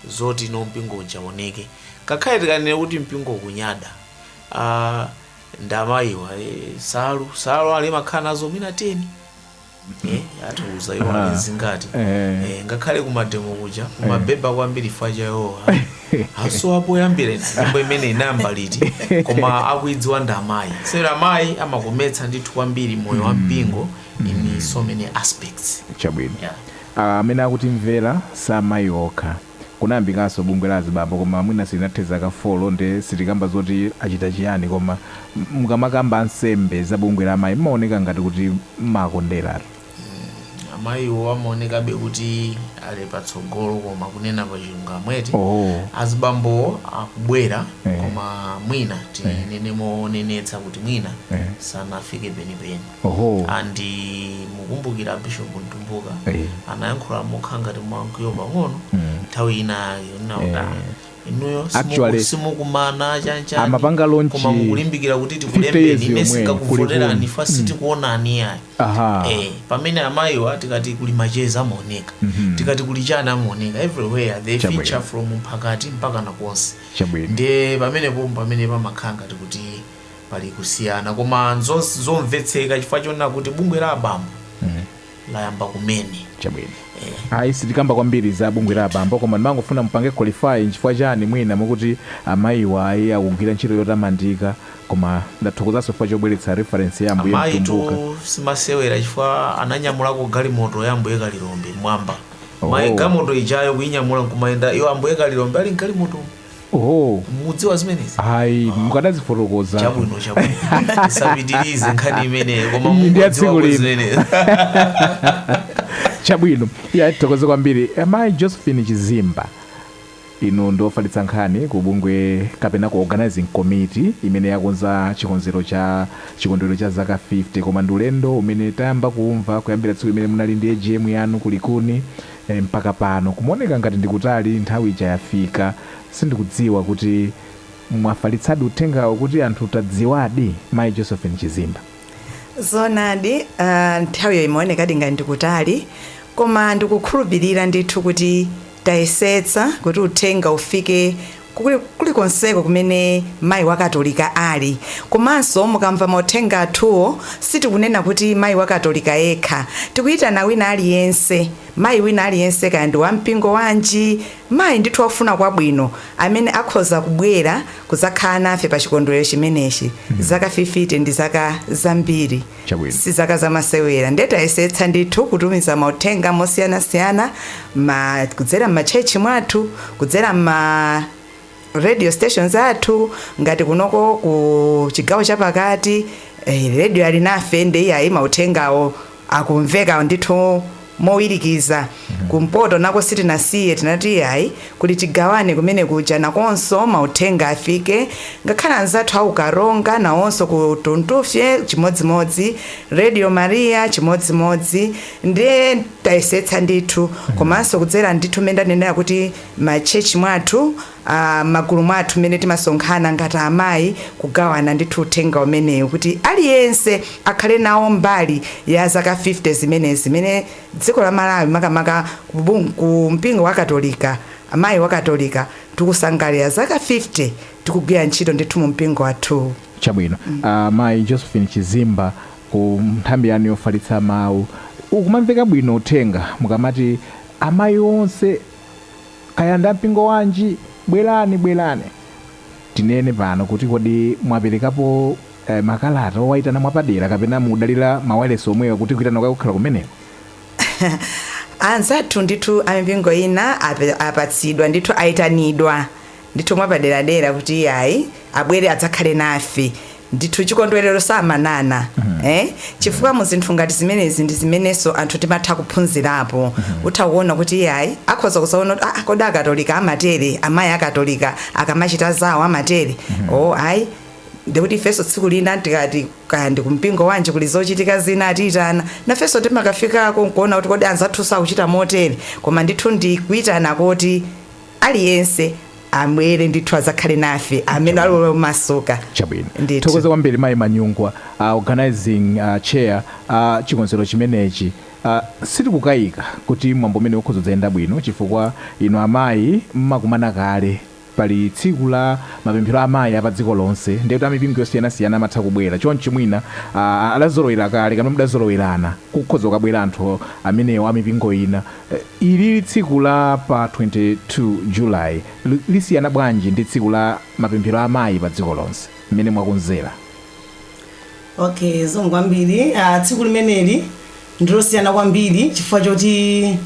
Speaker 1: zoti no mpingo uja uoneke ngakhale tikanene kuti mpingo kunyada ah, ndi amayiwa eh, nsalu nsalu aliyense amakhala nazo mwina 10 eh, atiuza iwo ali zingati Eh. eh, ngakhale kumademo kuja kumabeba kwambiri fukwa cha iwowa asowa poyambira ndipo imene inayamba liti koma akuidziwa ndi amayi sero amayi amakometsa ndithu kwambiri moyo wa mpingo in so many aspects chabwino yeah. Ah, amene akutimvera si amayi okha kunayambikanso bungwe la azibambo koma mwina silinathe zaka 4 nde sitikukamba zoti achita chiyani koma mukamakamba ansembe za bungwe la amayi mmaoneka ngati kuti mmakonderatu. amayiwo amaonekabe kuti ali patsogolo koma kunena pachilungamo eti Oh. azibambowo akubwera Eh. koma mwina tinene monenetsa kuti mwina Eh. sanafike penipeni Oho. and mukumbukira abishop mtumbuka Eh. anayankhula mokhala ngati mwamkwiyo pang'ono nthawi ina yake kunena kuti "Ah, inuyo simuku- Actually, simukumana chanchani amapanga launch koma mukulimbikira kuti 50 years tikulembeni ine yomweyo, sindikuvoterani kulikulu. fukwa sitikuonani ayi Aha. Eh, pamene amayiwa tikati kuli macheza amaoneka tikati kuli chiyani amaoneka everywhere they Chabwino. feature from mphakati mpaka kuna konse Chabwino. ndiye pamenepo pamene pamakhala ngati kuti Pali kusiyana koma nzomvetseka chifukwa chonena kuti bungwe la abambo layamba kumene. chabwino ayi sitikamba kwambiri za bungwe la abambo koma ndimangofuna mupange qualify nchifukwa chani mwina mukuti amayiwa ayi akugwira ntchito yotamandika koma ndathokozanso chifukwa chobweretsa reference ya ambuye Mtumbuka Amayitu si masewera chifukwa ananyamulako galimoto ya Ambuye Kalilombe m'mwamba. Oh. Mayi galimoto ijayo kuinyamula nkumayenda iyo Ambuye Kalilombe ali mgalimoto. oho mudziwa zimenezi ayi mukadazifotokoza chabwino chabwino tisapitirize nkhani imeneyo koma Iyi ndi ya tsiku mungodziwa lino. zimenezi chabwino iya tithokoze kwambiri amayi josephine chizimba inu ndiofalitsa nkhani ku bungwe kapena ku organizing committee imene yakonza cha chikondwerero cha zaka 50 koma ndi ulendo umene tayamba kumva kuyambira tsiku limene munali ndi agm yanu kulikuni Eeh mpaka pano kumaoneka ngati ndikutali nthawi ija yafika sindikudziwa kuti mwafalitsadi uthengawo kuti anthu tadziwadi Mayi Josephine Chizimba. Zoonadi eeh nthawiyo imaonekadi ngati ndikutali koma ndikukhulupilira ndithu kuti tayesetsa kuti uthenga ufike kulikonseko kumene mayi wa katolika ali komanso mukamva mauthenga athuwo sitikunena kuti mayi wa katolika yekha tikuyitana wina aliyense mayi wina aliyense kaya ndi wampingo wanji mayi ndithu wofuna kwabwino amene akhoza kubwera kudzakhala nafe pa chikondwelero chimenechi zaka fifite ndi zaka zambiri chabwino si zaka zamasewera nde tayesetsa ndithu kutumiza mauthenga mosiyanasiyana ma, kudzera m'matchechi mwathu kudzera m'ma radio stations athu ngati kunoko ku chigawo chapakati eh, Radio Alinafe nde iyayi mauthengawo akumveka ndithu mowirikiza. Kumpoto nako sitinasiye, tinati iyayi, kuti tigawane kumene kuja nakonso mauthenga afike, ngakhale anzathu a ku Karonga nawonso ku Tuntufye chimodzimodzi, Radio Maria chimodzimodzi, ndiye tayesetsa ndithu, komanso kudzera ndithu mmene ndanenera kuti m'matchetchi mwathu, a m'magulu mwathu mmene timasonkhana ngati amayi kugawana ndithu uthenga umenewu kuti aliyense akhale nawo mbali ya zaka 50 zimenezi zimene dziko la Malawi makamaka kubung ku mpingo wa katolika amayi wa katolika tikusangalira zaka 50 tikugwira ntchito ndithu mu mpingo wathuwu. Chabwino. Mayi Josephine Chizimba ku nthambi yanu yofalitsa mawu ukumamveka bwino uthenga mukamati amayi onse. Kaya ndi a mpingo wanji, bwerani, bwerani. Tinene pano kuti kodi mwaperekapo makalata owaitana mwapadera kapena mukudalira mawailesi omwewo kuti kuitana kwake kukhala kumeneko? Anzathu ndithu a mipingo ina apatsidwa ndithu, aitanidwa. ndithu mwapaderadera kuti iyayi abwere adzakhale nafe ndithu chikondwerero samanana eh? chifukwa mu zinthu ngati zimenezi ndi zimenenso anthu timatha kuphunzirapo utha kuona kuti iyayi akhoza kudzaona kuti ah, kodi akatolika amatere amayi akatolika akamachita zawo amatere o ayi ndikuti ifenso tsiku lina tikati kaya ndi kumpingo wanji kuli zochitika zina atiyitana nafenso timakafikako nkuona kuti kodi anzathu sakuchita motere koma ndithu ndi kuyitana koti aliyense abwere ndithu adzakhale nafe amene ali omasuka chabwino Ndithokoze kwambiri mayi manyungwa uh, organizing uh, chair wa chikonzero chimenechi uh, sitikukayika kuti mwambo umenewu ukhoza kudzayenda bwino chifukwa inu amayi mmakumana kale pali tsiku la mapemphero a amayi a pa dziko lonse ndiye kuti amipingo yosiyanasiyana amatha kubwera choncho mwina uh, adazolowera kale kapena mudazolowerana kukhoza kukabwera anthu amenewo amipingo ina Ili tsiku la pa 22 July lisiyana bwanji ndi tsiku la mapemphero a amayi pa dziko lonse mmene mwakonzera? Ok zikomo kwambiri. Tsiku limeneli ndilosiyana kwambiri chifukwa choti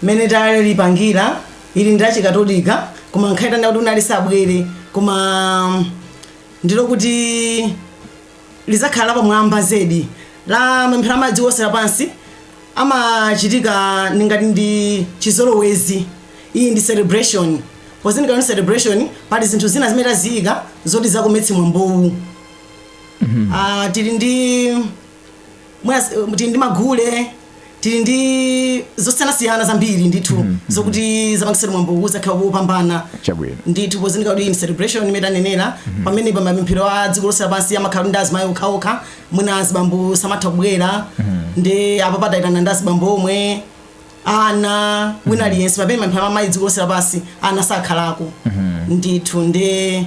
Speaker 1: mmene talipangira ili ndi lachikatolika koma ngakhale tikanakonda kuti wina aliyense abwere koma ndilokuti. lidzakhala lapamwamba zedi la mapemphero a mayi dziko lonse lapansi amachitika ndi ngati ndi chizolowezi. Iyi ndi celebration. Pozindikira kuti celebration pali zinthu zina zimene taziyika zoti zakometse mwambowu. Ah, tili ndi mwina s- eh, tili ndi magule tili ndi zosiyanasiyana zambiri ndithu zokuti zapangitsa mwambo kuzakhala wopambana Chabwino. ndithu pozindikira kuti ndi celebration mmene tanenera pamene pa mapemphero a dziko lonse lapansi amakhala ndi azimayi okhaokha mwina azibambo samatha kubwera nde apapa tayitana ndi azibambo omwe ana wina aliyense pamene mapemphero amayi dziko lonse lapansi ana sakhalako ndithu ndi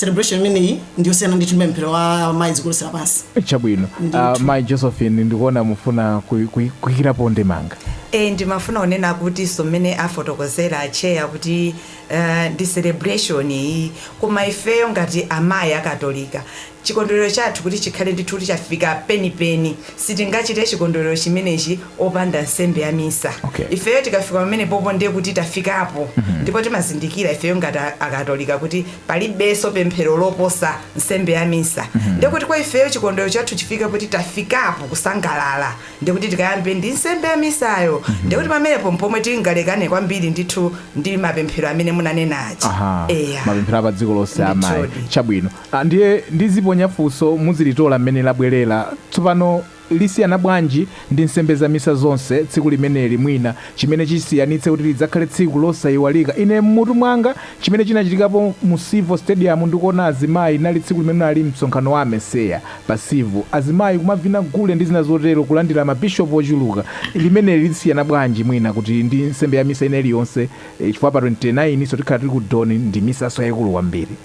Speaker 1: celebration imeneyi ndiyosiyana ndithu ndi mapemphero a mayi dziko lonse lapansi chabwino uh, mai josephine ndikuona mufuna kuy- kuy- kuyikirapo ndemanga e ndimafuna kunena kuti so mmene afotokozera acheya kuti uh, ndi celebration iyi koma ifeyo ngati amayi akatolika chikondwerero chathu kuti chikhale ndithu kuti chafika penipeni Sitingachite chikondwerero chimenechi opanda nsembe ya misa. Okay. Ifeyo tikafika pamenepopo ndiye kuti tafikapo ndipo timazindikira ifeyo ngati a- akatolika kuti palibenso pemphero loposa nsembe ya misa. Ndiye kuti kwa ifeyo chikondwerero chathu chifike kuti tafikapo kusangalala. Ndiye kuti tikayambe ndi nsembe ya misayo. Ndiye kuti pamenepo mpomwe tingalekane kwambiri ndithu ndi mapemphero amene munanena aja. Aha. Eya. Mapemphero a padziko lonse amayi. Ndithudi. Chabwino. A, Ndiye ndiziponya funso muzilitola mmene labwelera. Tsopano, lisiyana bwanji ndi nsembe za misa zonse tsiku limeneli, mwina, chimene chisiyanitse kuti lidzakhale tsiku losaiwalika? Ine mmutu mwanga, chimene chinachitikapo mu Civo Stadium ndi kuona azimayi, linali tsiku limene unali msonkhano wa AMECEA pa Civo. Azimayi kumavina gule ndi zina zotero, kulandira ma Bishop ochuluka. Limeneli lisiyana bwanji mwina kuti ndi nsembe ya misa ina iliyonse, chifukwa pa 29 so tikhala tili ku Don ndi misanso yaikulu kwambiri.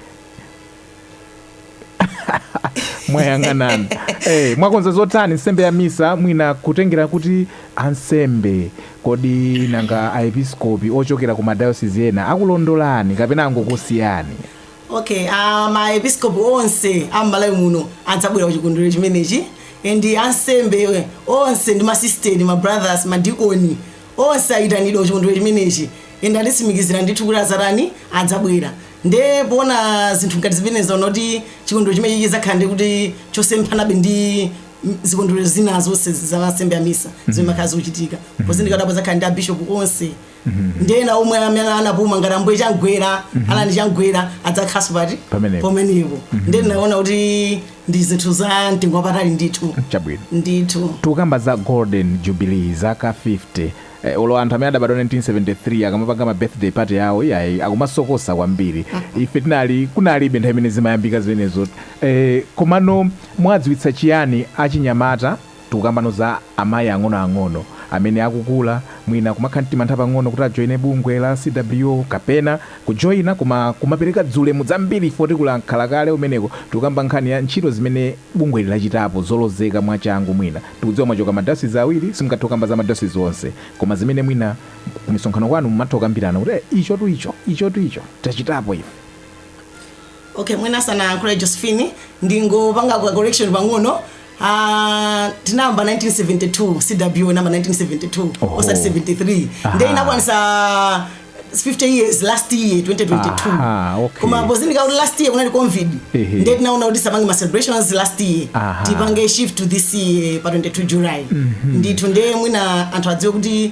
Speaker 1: mwayang'anani eh, mwakonza zotani nsembe ya misa mwina kutengera kuti ansembe kodi nanga aepiskopi ochokera ku madayosizi ena akulondolani kapena angokusiyani okay uh, maepiskopi onse am'malawi muno adzabwera ku chikondwerero chimenechi and ansembe onse ndi masisteri mabrothers madikoni Onse ayitanidwa kuchikondwelero chimenechi and atitsimikizira ndithu kuti adzatani, adzabwera. Nde poona zinthu ngati zimenezi taona kuti chikondwelero chimenechi chidzakhala ndiye kuti chosemphanabe ndi zikondwelero zina zonse za nsembe ya misa zomwe zimakhala zikuchitika. Pozindikira kuti apa adzakhala ndi a Bishop onse ndi ena omwe amene anapuma ngati Ambuye Chamgwera, Allan Chamgwera adzakhalanso pati? Pamenepo. Pamenepo. Nde ndinaona kuti Ndi zinthu za mtengo wapatali ndithu. Chabwino. Ndithu. Tikukamba za golden jubilee, zaka 50. Eh, olo anthu amene anabadwa 1973 akamapanga ma birthday party yawo iyayi akumasokosa kwambiri. Ife tinali kunalibe nthawi imene zimayambika zimenezo. Eh, komano mwadziwitsa chiyani achinyamata? Tikukambano za amayi ang'onoang'ono amene akukula, mwina kumakhala ndi mantha pang'ono kuti ajoine bungwe la CWO kapena kujoina koma kumapereka ziulemu zambiri ife otikula mkhala kale umeneko. Tikukamba nkhani ya ntchito zimene bungweli lachitapo zolozeka mwachangu mwina. Tikudziwa mwachoka ma dayosizi awiri simungathe kukamba za madayosizi onse koma zimene mwina kumisonkhano kwanu mumatha kukambirana kuti ichotu icho, ichotu icho tachitapo ife. Okay mwina asanayankhule Josephine ndingopanga ka correction pang'ono Ah, tinayamba 1972 CW inayamba 1972 Oho. osati 73 Aha. nde inakwanisa 50 years last year 2022 Aha, okay. koma pozindikira kuti last year kunali covid Ehe. nde tinaona kuti tisapange ma celebrations last year Aha. tipange shift to this year pa 22 july ndithu nde mwina anthu adziwe kuti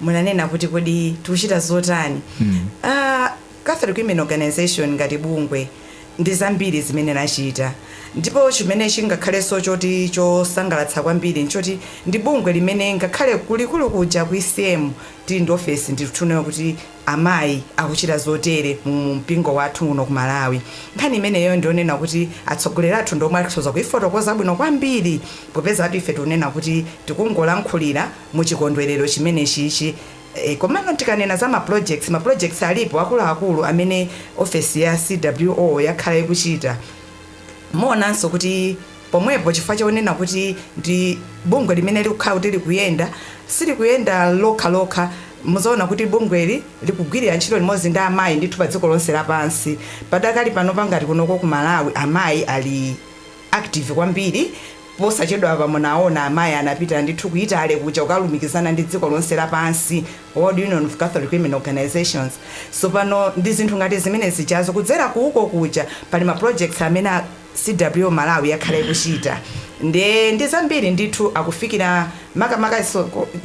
Speaker 1: munanena kuti kodi tikuchita zotani uh, Catholic Women Organization ngati bungwe ndi zambiri zimene lachita ndipo chimene chingakhalenso choti chosangalatsa kwambiri nchoti ndi bungwe limene ngakhale kulikulu kuja ku ECM tili ndi ofesi ndikutunayo kuti amayi akuchita zotere mu mu mpingo wathu kuno ku Malawi nkhani imeneyo ndionena kuti atsogoleri athu ndiomwe akhoza kuifotokoza bwino kwambiri popeza ife tikunena kuti tikungolankhulira mu chikondwerero chimenechi ichi. E, komano tikanena za ma projects, ma projects alipo akuluakulu amene ofesi ya CWO yakhala ikuchita. Muonanso kuti pomwepo chifukwa chonena kuti ndi bungwe limene likukhala kuti likuyenda, silikuyenda lokhalokha, muzaona kuti bungweli likugwirira ntchito limodzi ndi amayi ndithu pa dziko lonse lapansi. Padakali panopa ngati kunoko ku Malawi amayi ali. active kwambiri. Posachedwapa munaona amayi anapita ndithu ku Italy kuja kukalumikizana ndi dziko lonse lapansi, World Union of Catholic Women Organisations. Sopano ndi zinthu ngati zimenezijazo kudzera ku uko kuja pali ma projects amene a CWO Malawi akhala akuchita nde ndi zambiri ndithu akufikira makamaka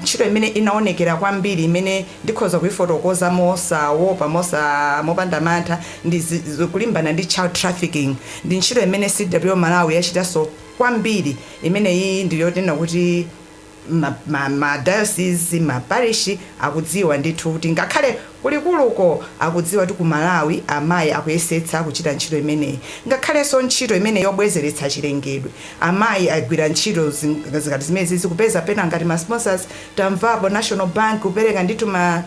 Speaker 1: ntchito imene inaonekera kwambiri imene Ndikhoza kuifotokoza mosawopa, mosa, mopanda mantha, ndi zi, zo, kulimbana ndi child trafficking. Ndi ntchito imene CWO Malawi yachitanso kwambiri. Imeneyi ndi yoti tinena kuti ma, ma, ma dayosizi, ma parishi akudziwa ndithu kuti ngakhale ku likuluko akudziwa kuti ku Malawi amayi akuyesetsa kuchita ntchito imeneyi. Ngakhalenso ntchito imene yobwezeretsa chilengedwe, amayi agwira ntchito zi, ngati zimenezizi, kupeza pena ngati ma sponsors Tamvapo a National Bank kupereka ndithu ma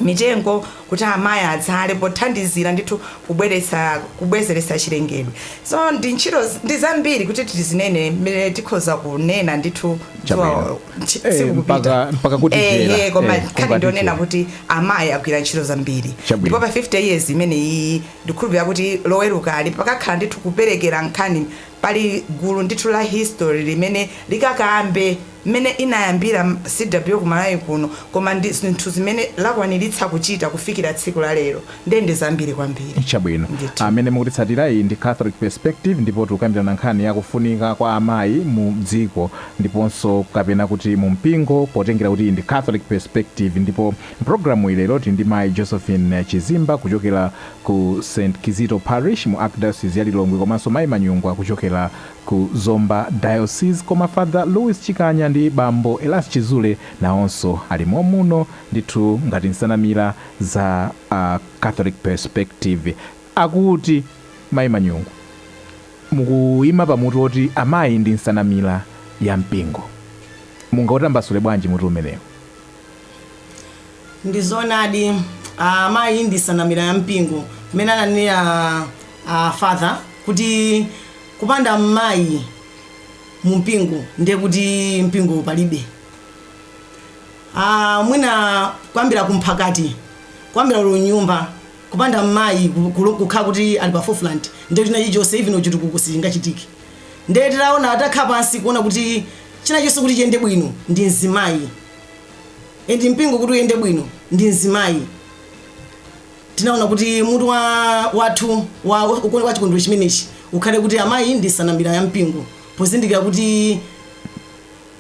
Speaker 1: mitengo kuti amayi adzale pothandizira ndithu kubweretsa kubwezeretsa chilengedwe. So ntchito ndi zambiri kuti tizinene mmene tikhoza kunena ndithu dzuwa tsiku kupita. Ehe koma nkhani ndi yonena kuti amayi agwira ntchito zambiri. Ndipo pa 50 years imene iyi ndikhulupira kuti loweruka li pakakhala ndithu kuperekera nkhani pali gulu ndithu la history limene likakambe. mmene inayambira CWO ku Malawi kuno koma ndi zinthu zimene lakwaniritsa kuchita kufikira tsiku la lero ndiye ndi zambiri kwambiri Chabwino. ndithu. Amene mukutitsatira iyi ndi Catholic Perspective ndipo tikukambirana nkhani ya kufunika kwa amayi mu dziko ndiponso kapena kuti mu mpingo potengera kuti iyi ndi Catholic Perspective ndipo mpulogalamuyi lero tili ndi mayi Josephine Chizimba kuchokera ku St. Kizito Parish mu Archdiocese ya Lilongwe komanso mayi Manyungwa kuchokera Ku Zomba Diocese koma Father Louis Chikanya ndi Bambo Elias Chizule nawonso ali mommuno ndithu ngati nsanamira za Catholic Perspective. Akuti Mayi Manyungwa mukuima pa mutu woti amayi ndi nsanamira ya mpingo. Mungautambasule bwanji mutu umenewu? Ndi zoonadi amayi ndi nsanamira ya mpingo mmene ananenera a Father kuti Kupanda mayi mu mpingo ndiye kuti mpingowo palibe. A, mwina kuyambira ku mphakati, kuyambira olo mnyumba, kupanda mayi ku, ku, kukhala kuti ali pa forefront, ndiye kuti china chilichonse, even chitukuko sichingachitike. Ndiye titaona, titakhala pansi kuona kuti china chonse kuti chiyende bwino ndi mzimayi, and mpingo kuti uyende bwino ndi mzimayi. Tinaona kuti mutu wa wathu wa wa- wa chikondwero chimenechi ukhale kuti amayi ndi nsanamira ya mpingo pozindikira kuti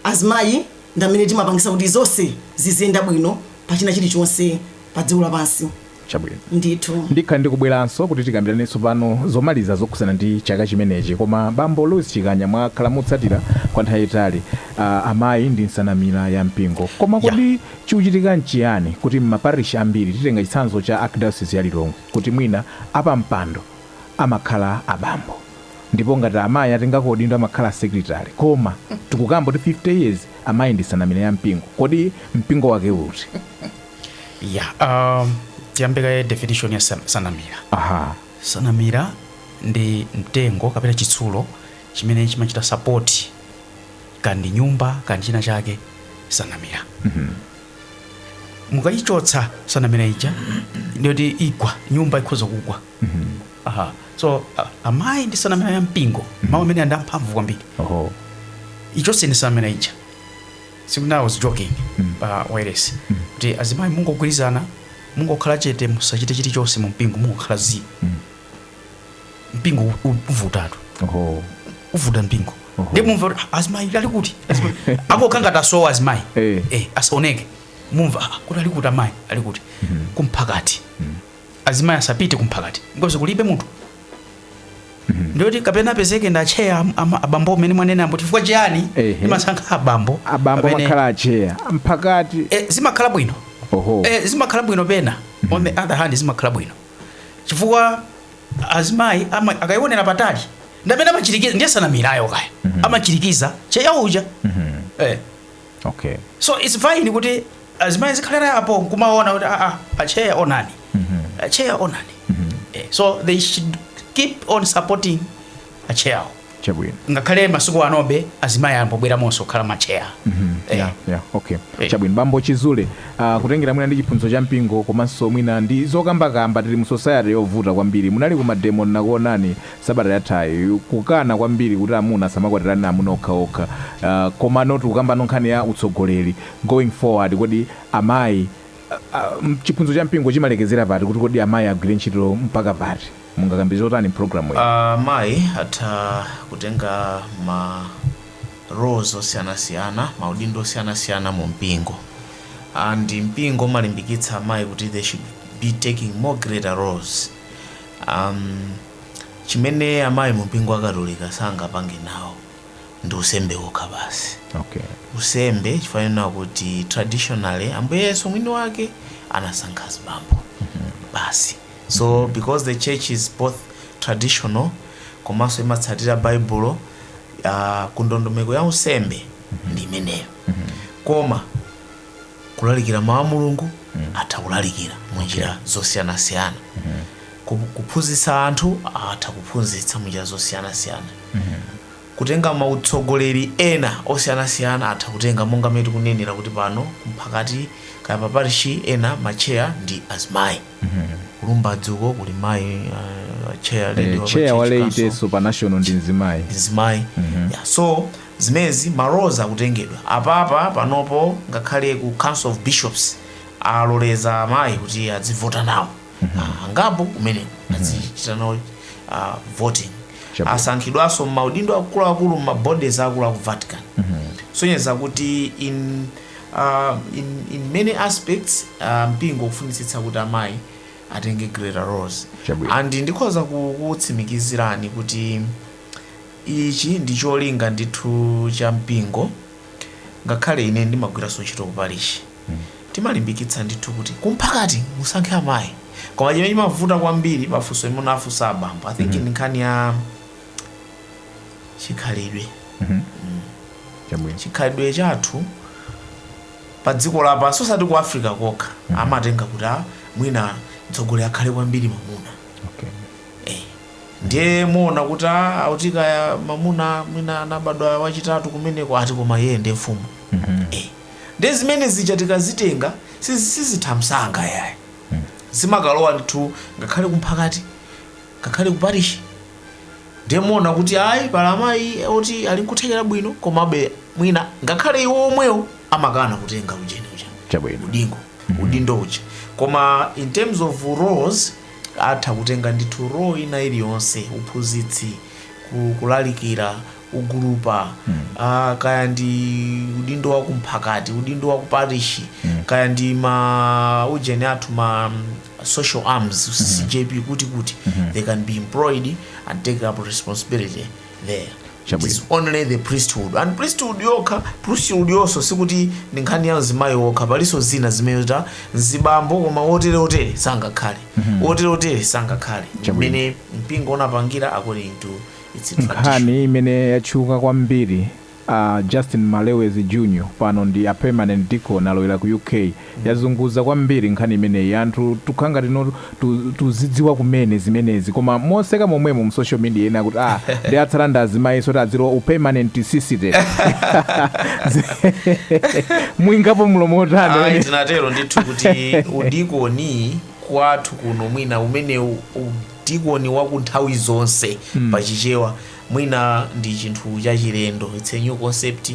Speaker 1: azimayi ndi amene timapangisa kuti zonse ziziyenda bwino pa china chilichonse pa dziko lapansi chabwino ndithu ndikhala ndikubweranso kuti tikambirane tsopano zomaliza zokhudzana ndi chaka chimenechi koma bambo louis chikanya mwakhala mutsatira kwa nthawi yaitali uh, amayi ndi nsanamira ya mpingo koma kodi Chikuchitika nchiyani kuti m'maparishi ambiri, titenga chitsanzo cha Archdiocese ya Lilongwe, kuti mwina apampando amakhala abambo ndipo ngati amayi atengako udindo amakhala a secretary koma tikukamba kuti 50 years amayi ndi nsanamira ya mpingo? Kodi mpingo wake uti? Ya, um, tiyambe kaye definition ya san- sanamira. Aha. Sanamira ndi mtengo kapena chitsulo chimene chimachita sapoti kaya ndi nyumba kaya ndi china chake sanamira mukayichotsa sanamira ija ndiyoti igwa nyumba ikhoza kugwa Aha. so a- amayi ndi sanamira ya mpingo mawu amene andi amphamvu kwambiri oho ichonse ndi sanamira ija sikuti ndinajoking pa wireless kuti azimayi mungogwirizana mungokhala chete musachite chilichonse mu mpingo mungokhala zii mpingo u- u- uvutatu Oho. uvuta mpingo Oho. ndi mumva kuti "Ah, azimayi ali kuti Azimayi." akokha ngati asowa azimayi Eh. Eh, asaoneke mumva "Ah, kuti ali kuti amayi ali kuti kumphakati azimayi asapite kumphakati ndiyoti kulibe munthu ndiyoti kapena apezeke ndi acheya am- ama- abambo amene mwanena ambo chifukwa chiyani Ehe. imasankha abambo abambo amene- makhala acheya a mphakati Eh, zimakhala bwino oho Eh, zimakhala bwino pena on the other hand zimakhala bwino chifukwa azimayi ama- akayionera patali ndamene amachirikiza ndi sanamirayo kaya amachirikiza tcheya uja eh. okay so it's fine kuti azimayi azikhala apo kumaona kuti aa acheya onani acheya onani eh. so they should keep on supporting acheyawo chabwino ngakhale masiku anobe azimayi akumabweramonso kukhala matcheya Eh. yeah, yeah, okay Eh. chabwino bambo chizule uh, kutengera mwina ndi chiphunzitso cha mpingo komanso mwina ndi zokambakamba tili mu society yovuta kwambiri munali ku mademo ndinakuonani sabata yathayi kukana kwambiri kuti amuna asamakwatirane amuna okhaokha uh, komano tikukamba nkhani ya utsogoleri going forward kodi amayi uh, uh, chiphunzitso cha mpingo chimalekezera pati kuti kodi amayi agwire ntchito mpaka pati Mungakambe zotani m'pulogalamu ino? Amayi atha kutenga ma roles osiyanasiyana, maudindo osiyanasiyana mu mpingo and mpingo umalimbikitsa amayi kuti they should be taking more greater roles amh chimene amayi mu mpingo wa katolika sangapange nawo ndi unsembe wokha basi Okay. unsembe chifukwa chonena kuti traditionally ambuye yesu mwini wake anasankha azibambo basi So because the church is both traditional komanso imatsatira baibulo uh, ku ndondomeko ya unsembe ndi imeneyo koma kulalikira mawu a mulungu atha kulalikira mu njira zosiyanasiyana Ku- kuphunzitsa anthu atha kuphunzitsa mu njira zosiyanasiyana Kutenga ma utsogoleri ena osiyanasiyana atha kutenga monga mmene tikunenera kuti pano ku Mphakati kaya pa parishi ena ma chair ndi azimayi. Ku Lumbadzi uko kuli mayi a chair lady wa pa Chair wa church council Laity-nso pa national ndi mzimayi. ndi mzimayi. Yeah, so zimenezi ma roles atha kutengedwa. Apapa panopo ngakhale ku council of bishops aloleza amayi kuti adzivota nawo. ah, angapo kumeneko azichita nawo ah, voting Chabwino. asankhidwanso m'maudindo akuluakulu m'mabodies akulu aku vatican sonyeza kuti in, ah, in, in many aspects ah, mpingo ukufunitsitsa kuti amayi atenge greater roles Chabwino. and ndikhoza ku- kutsimikizirani kuti ichi ndi cholinga ndithu cha mpingo ngakhale ine ndimagwiranso ntchito kuparishi Timalimbikitsa ndithu kuti ku Mphakati musankhe amayi koma chimene chimavuta kwambiri pa funso limene afunsa abambo I think ndi nkhani ya chikhalidwe. Chabwino. Chikhalidwe chathu pa dziko lapansi osati ku Africa kokha amatenga kuti ah, mwina mtsogoleri akhale kwambiri mamuna. Okay. Eh, ndiye muona kuti ah, auti kaya mamuna mwina anabadwa wachitatu kumeneko ati koma iye ndiye mfumu. Eh, Ndiye zimene zija tikazitenga sizi sizitha msanga yayi. Zimakalowa ndithu ngakhale kumphakati, ngakhale kuparishi. Ndiye muona kuti ayi pali amayi oti ali nkuthekera bwino komabe mwina ngakhale iwo omwewo amakana kutenga ujeni uja. Chabwino. Udingo, udindo uja. Koma in terms of roles atha kutenga ndithu role ina iliyonse, uphunzitsi, ku- kulalikira, ugulupa ah, kaya ndi udindo wa kumphakati udindo wa kuparishi kaya ndi ma ujeni athu ma mm, social arms ccjp kuti kuti they can be employed and take up responsibility there It Chabwino. is only the priesthood and priesthood yokha priesthood yonso sikuti ndi nkhani ya mzimayi wokha palinso zina zimene ati mzibambo koma wotere wotere sangakhale wotere wotere sangakhale Chabwino. mmene mpingo unapangira according to Nkhani imene yatchuka kwambiri A Justin Malewezi Junior pano ndi a Permanent Deacon alowera ku UK yazunguza kwambiri nkhani imeneyi anthu tukhala ngati no tu, tuzidziwa kumene zimenezi koma moseka momwemo mu social media ena akuti ah ndi atsala ndi azimayinso kuti azilowa u permanent sister muikapo mlomo Ayi, otani tinatero ndithu kuti udikoni kwathu kuno mwina umene u- u- Dikoni wa ku nthawi zonse pa Chichewa mwina ndi chinthu chachilendo, it's a new concept,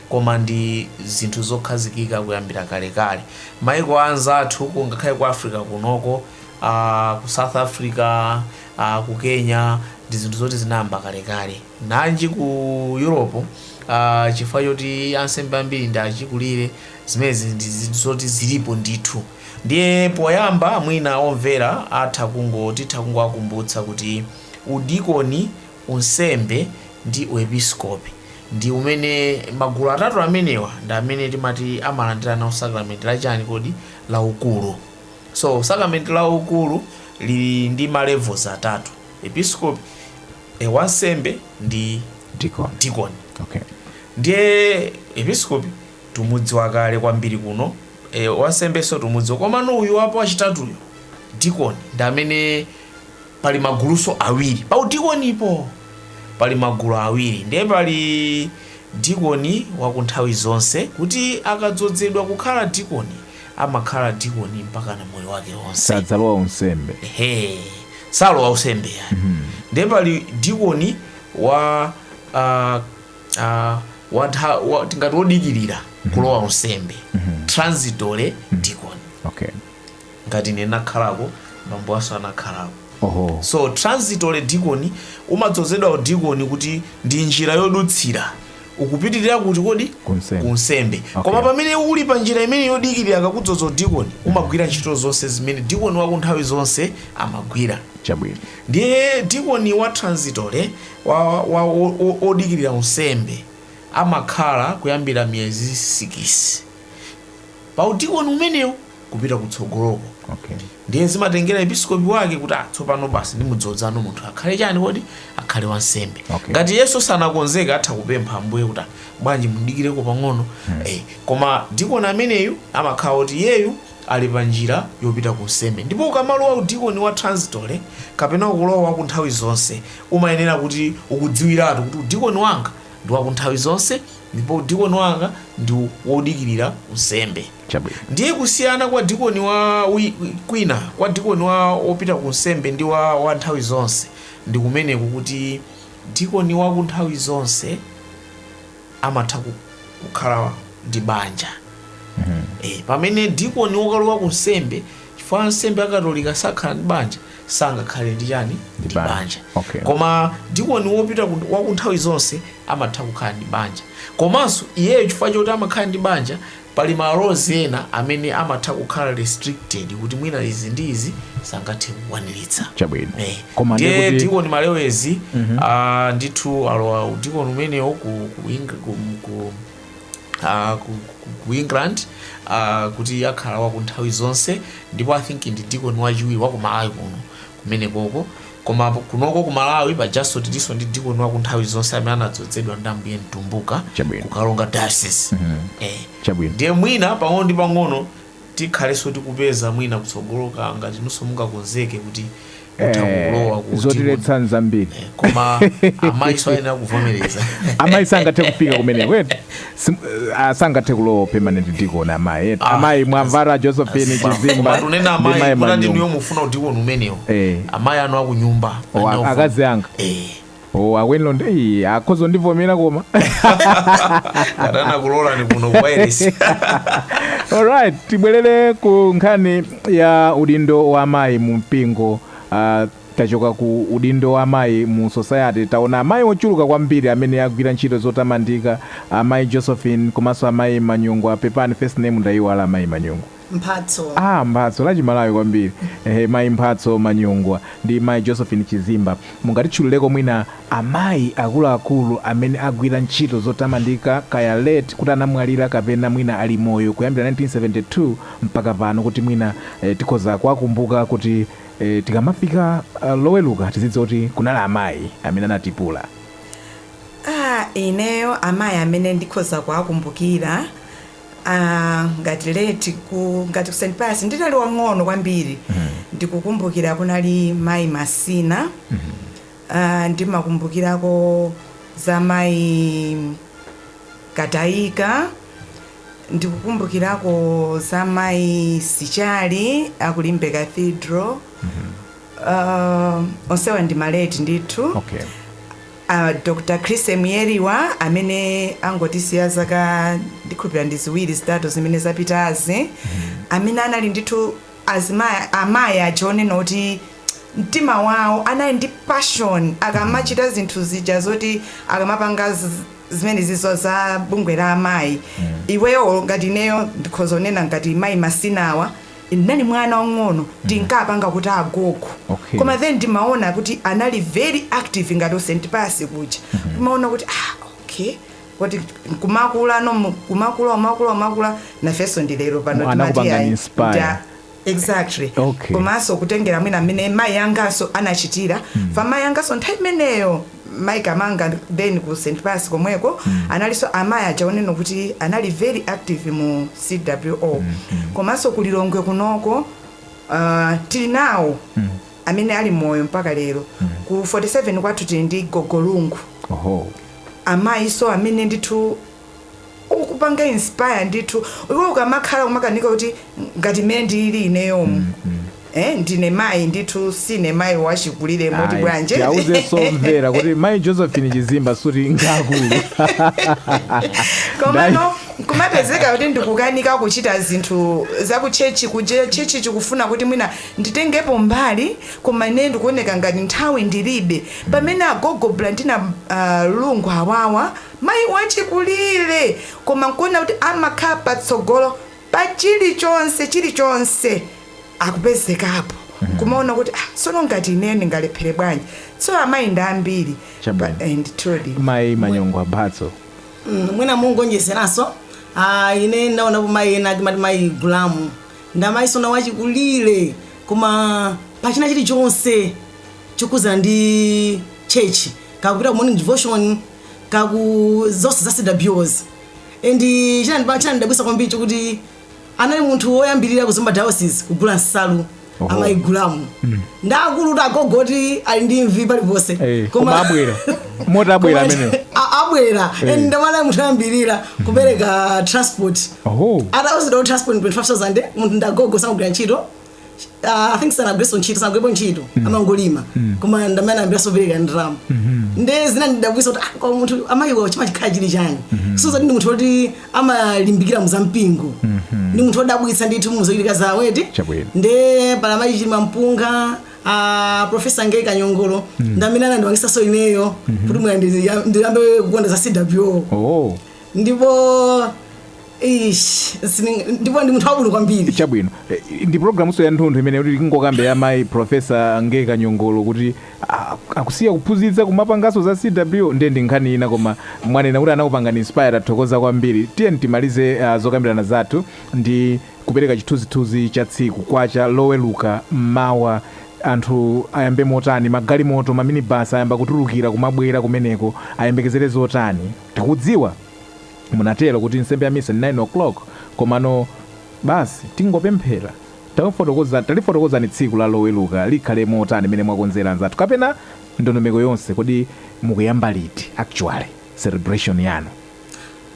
Speaker 1: koma ndi zinthu zokhazikika kuyambira kalekale. Maiko a anzathu ku ngakhale ku Africa kunoko, aah, ku South Africa, aah, ku Kenya, ndi zinthu zoti zinayamba kalekale. Nanji ku Europe, aah, chifukwa choti ansembe ambiri ndi achikulire, zimene ndi zinthu zoti zilipo ndithu. Ndiye poyamba mwina omvera atha kungo titha kungowakumbutsa kuti udikoni, unsembe ndi uepiskopi ndi amene magulu atatu amenewa ndi amene timati amalandira nawo sakramenti la chani kodi? la ukulu. So sakramenti la ukulu lili ndi ma levels atatu, episkopi, e wansembe ndi. dikoni. dikoni. Okay. Ndiye episkopi tumudziwa kale kwambiri kuno. Eee wansembeso tumudziwa komano uyu wapo wachitatuyu dikoni ndi amene pali maguluso awiri pa udikonipo pali magulu awiri ndiye pali dikoni wakunthawi zonse kuti akadzodzedwa kukhala dikoni amakhala dikoni mpakana moyo wake wonse sadzalowa unsembe ehe salowa unsembe eya ndiye pali dikoni wa ah, ah, watha- wa- tingati wodikirira kulowa unsembe transitory deacon okay ngati ine nakhalako bambowanso anakhalako oho so transitory deacon umadzozedwa udikoni kuti ndi njira yodutsira ukupitirira kuti kodi Kunsembe. kunsembe Okay. koma pamene uli pa njira imene yodikirira akakudzoza udikoni umagwira ntchito zonse zimene dikoni wa ku nthawi zonse amagwira chabwino ndiye dikoni wa transitory wa, wa o, o, odikirira unsembe amakhala kuyambira miyezi sikisi pa udikoni umenewu kupita kutsogoloko okay ndiye zimatengera episkopi wake kuti "Ah, tsopano basi ndimudzodze munthu akhale chani kodi akhale wansembe Okay. ngati iyenso sanakonzeke atha kupempha ambuye kuti "Ah, bwanji mudikireko pang'ono eh, koma dikoni ameneyu amakhala kuti iyeyu ali pa njira yopita ku unsembe. Ndipo ukamalowa udikoni wa transitory kapena ukulowa wa ku nthawi zonse, umayenera kuti ukudziwiratu kuti udikoni wanga ndi wa ku nthawi zonse ndipo udikoni wanga ndi wodikirira unsembe. Chabwino. Ndiye kusiyana kwa dikoni wa wi- wi- kwina kwa dikoni wa wopita ku unsembe ndi wa, wa nthawi zonse ndi kumeneko kuti dikoni wa ku nthawi zonse amatha ku- kukhala ndi banja e, pamene dikoni wokalowa ku unsembe chifukwa ansembe akatolika sakhala ndi banja sangakhale ndi chani ndi banja. banja Okay. koma dikoni wopita ku- wa ku nthawi zonse amatha kukhala ndi banja komanso iyeyo chifukwa choti amakhala ndi banja Pali ma laws ena amene amatha kukhala restricted kuti mwina izi ndi izi sangathe kukwaniritsa. Chabwino. Eh. Koma ndiye Ndiye kuti Deacon Malewezi ah, ndithu alowa udikoni umenewo ku, ku, Eng- ku, ku, ah, ku, ku, ku England ah, kuti akhala waku nthawi zonse ndipo I think ndi dikoni wachiwiri wa ku Malawi kuno kumenekoko koma kunoko ku malawi pajanso tilinso ndi dikoni wa nthawi zonse amene anadzodzedwa ndi ambuye mtumbuka Chabwino. ku Karonga diocese eh. Chabwino. ndiye mwina pang'ono ndi pang'ono tikhalanso tikupeza mwina kutsogoloka ngati inunso mungakonzeke kuti mutha Eh, kulowa ku zotiletsa zambiri dikoni. koma amayinso ayenera kuvomereza amayi sangathe kufika kumeneko eti Sim, uh, ah, sangathe kulowa permanent deacon amayi eti Ah. amayi mwamvatu josephine chizimba koma tunena ndi amayi mayi kuna ndinuyo manyumba mufuna udikoni umenewo Eh. amayi anu akunyumba O, a- akazi anga Eh, o Akwenilondi akhoza kundivomera koma adanakulolani kuno kuwairesi alright tibwerere ku nkhani ya udindo wa amayi mu mpingo uh, Tachoka ku udindo wa amayi mu society taona amayi ochuluka kwambiri amene agwira ntchito zotamandika, amayi Josephine komanso amayi Manyungwa, pepani first name ndaiwala amayi Manyungwa. Mphatso. Ah Mphatso, la chimalawi kwambiri. Ehe mayi Mphatso Manyungwa ndi mayi Josephine Chizimba. Mungatitchulileko mwina amayi akuluakulu amene agwira ntchito zotamandika kaya late kuti anamwalira kapena mwina ali moyo kuyambira 1972 mpaka pano kuti mwina tikhoza kuwakumbuka kuti. E, tikamafika uh, loweluka tidziwa kuti kunali amayi amene anatipula Ah, ineyo amayi amene ndikhoza kuwakumbukira ah, ngati late ngati ku St Pius ndinali wang'ono kwambiri ndikukumbukira kunali mayi Masina Aaa ndimakumbukirako za mayi Kataika, ndikukumbukirako za mayi Sichali a ku Limbe Cathedral, uh, onsewa ndi ma late ndithu. Okay. Uh, Dr. Chrissie Mwiyeriwa amene angotisiya zaka ndikhulupira ndi ziwiri zitatu zimene zapitazi amene anali ndithu azimayi amayi aja onena kuti mtima wawo anali ndi passion akamachita zinthu zija zoti akamapanga z- zimenezizo za bungwe la amayi iwowo ngati ineyo ndikhoza kunena ngati mayi Masinawa ndinali mwana wang'ono ndinkapanga kuti agogo Okay. koma then ndimaona kuti anali very active ngati ku St Pius kuja ndimaona kuti ah okay kuti kumakula no mu- kumakula umakula umakula nafenso ndilero pano Mwana timati kupanga ayi, inspire. nda- Exactly. Okay. Komanso kutengera mwina mmene mayi anganso anachitira. Mm. Pa mayi anganso nthawi imeneyo mayi Kamanga then ku St. Pius komweko mm. analinso amayi aja onena kuti anali very active mu CWO. Mm. Mm. Komanso ku Lilongwe kunoko uh, tili nawo mm. amene ali moyo mpaka lero. Mm. Ku 47 kwathu tili ndi Gogo Lungu. Oho. Amayinso amene ndithu okupanga inspire ndithu iwe ukamakhala kumakanika kuti ngati mmene ndilili ineyomu mm, mm. Eh, ndine mayi ndithu sine mayi wachikulire moti bwanje awauze omvera kuti mayi josephine chizimba sikuti ngakulu komano kumapezeka kuti ndikukanika kuchita zinthu zakuchechi kuja chechi chikufuna kuti mwina nditengepo mbali koma ine ndikuoneka ngati nthawi ndilibe pamene agogo Blandina uh, lungu awawa Mayi wachikulire, koma nkuona kuti amakhala patsogolo pa chilichonse, chilichonse akupezekapo, nkumaona kuti ah, tsono ngati ineyo ndingalephere bwanji? Tsono amayi ndi ambiri pa, Chabwino. eh, ndithudi. mayi manyongwa mphatso Mm, mwina mungaonjezerenso ah, ine ndaonapo mayi ena timati mayi gulamu ndi amayinso ena achikulire koma pachina chilichonse chokhudzana ndi chechi kaya kupita ku morning devotion kaya ku zonse za cwo and chinandiba- chinandidabwitsa kwambiri chokuti anali munthu woyambirira ku Zomba diocese kugula nsalu Oho. amayi gulamu ndaakulu kuti agogo oti ali ndi imvi paliponse Eh, koma abwera moti abwera amenewo A- abwera Eh. and anali munthu woyambirira kupereka transport oho atawuzidwa kuti transport 25000 munthu ndagogo sakugwira ntchito Ah, I think sanagwirenso ntchito sanagwirepo ntchito amangolima koma ndamene anayambiranso kupereka ndalama nde zinandidabwitsa kuti ah, koma munthu amayiwa chimakhala chili chani sono ndi munthu woti amalimbikira mu za mpingo ndi munthu wodabwitsa ndithu muzochitika zawo eti Chabwino. nde pali mayi chilima mpunga a profesa Ngeyi kanyongolo ndamene anandipangitsanso ineyo kuti mwina ndiyambe kukonda za cwo oh ndipo Eish, sini- ndipo ndi munthu wabwino kwambiri chabwino Eh, ndi programunso ya nthunthu imene kuti tingokamba ya mayi profesa Ngeyi kanyongolo kuti ah, akusiya kuphunzitsa kumapanganso za cwo ndiye ndi nkhani ina koma mwanena kuti anakupangani inspire tathokoza kwambiri tiyeni timalize ah, zokambirana zathu ndi kupereka chithunzithunzi cha tsiku kwacha loweluka mmawa anthu ayambe motani magalimoto maminibasi ayamba kutulukira kumabwera kumeneko ayembekezere zotani tikudziwa Munatero kuti nsembe ya misa ndi 9:00 komano basi tingopemphera? Tafotokozani tatifotokozerani tsiku la loweluka likhale motani mmene mwakonzera anzathu kapena ndondomeko yonse kodi mukuyamba liti actually celebration yanu?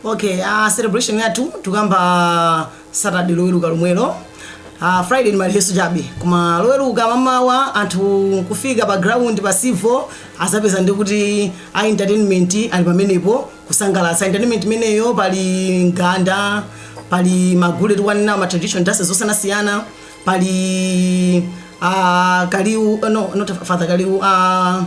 Speaker 1: Okay, ah celebration yathu tikuyamba Saturday loweruka lomwelo. Ah Friday ndi maliheso chabe. Koma loweruka mmamawa anthu kufika pa ground pa Civo azapeza ndi kuti a entertainment ali pamenepo kusangalatsa entertainment imeneyo pali mganda pali magule tikunena ma traditional dances zosiyanasiyana pali uh, kaliu uh, no not father kaliu uh,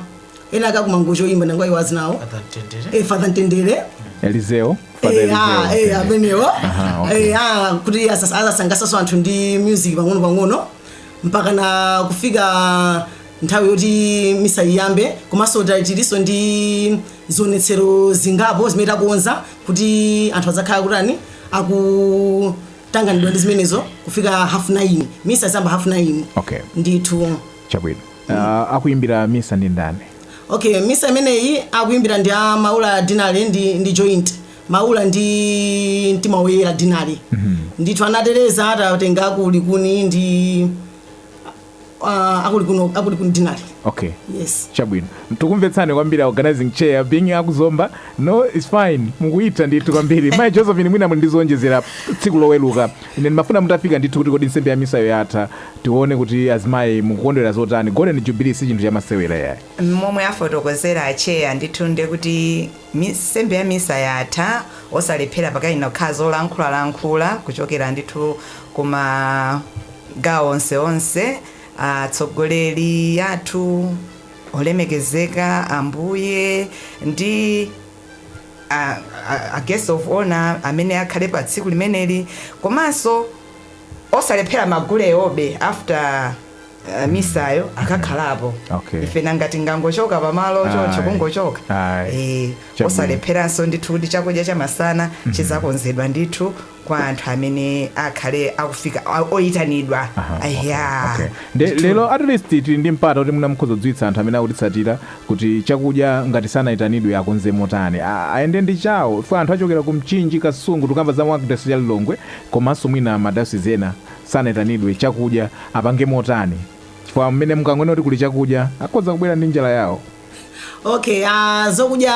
Speaker 1: ena akakumangochi oyimba nangwa iwazi nawo Atantendere. eh, father ntendere elizeo Father Eh, ah, Elizeo. eh, amenewo Aha, okay. Eh, ah, kuti asas- azasangalasaso anthu ndi music pang'ono pang'ono mpaka na kufika nthawi yoti misa iyambe komanso tiliso ndi zionetsero zingapo zimene takonza kuti anthu adzakhala kutani akutanganidwa ndi zimenezo kufika half 9 misa izayamba half 9 okay. ndithu chabwino mm. uh, akuimbira misa ndi ndani okay misa imeneyi akuimbira ndi a maula deanery ndi, ndi joint maula ndi mtima woyera deanery mm -hmm. ndithu anatereza atatenga ku likuni ndi ah, aku likuni aku likuni deanery okay yes chabwino tikumvetseni kwambiri organizing chair being aku zomba no is fine mukuitha ndithu kwambiri mayi josephine mwina muli ndizowonjezera tsiku loweluka ine ndimafuna mutafika ndithu kuti kodi nsembe ya misayo yatha tione kuti azimayi mukukondwera zotani golden jubilee si chinthu chamasewera yayi momwe afotokozera acheya ndithu nde kuti mi- nsembe ya misa yatha osalephera pakakhala zolankhulalankhula kuchokera ndithu kuma Magawo onse onse, atsogoleri athu olemekezeka, Ambuye, ndi a, a, a guest of honor amene akhale pa tsiku limeneli, komanso osalephera magulewobe after Uh, misayo akakhalapo Okay. ife nanga tingangochoka pamalo choncho Ayi. kungochoka Ayi. Eh, Chabwino. osalepheranso ndithu kuti chakudya chamasana chizakonzedwa ndithu kwa anthu amene akhale akufika a- oyitanidwa Aha, okay, Eya. okay. Nde- Ndithu. lero at least tili ndi mpata kuti mwina mukhoza kudziwitsa anthu amene akutitsatira kuti chakudya ngati sanayitanidwe akonze motani A- ayende ndi chawo kuna anthu achokera ku mchinji kasungu tukamba za mu archdiocese ya lilongwe komanso mwina ma diocese ena sanayitanidwe chakudya apange motani chifukwa mmene mukangonena kuti kuli chakudya akhoza kubwera ndi njala yawo okay ah, zokudya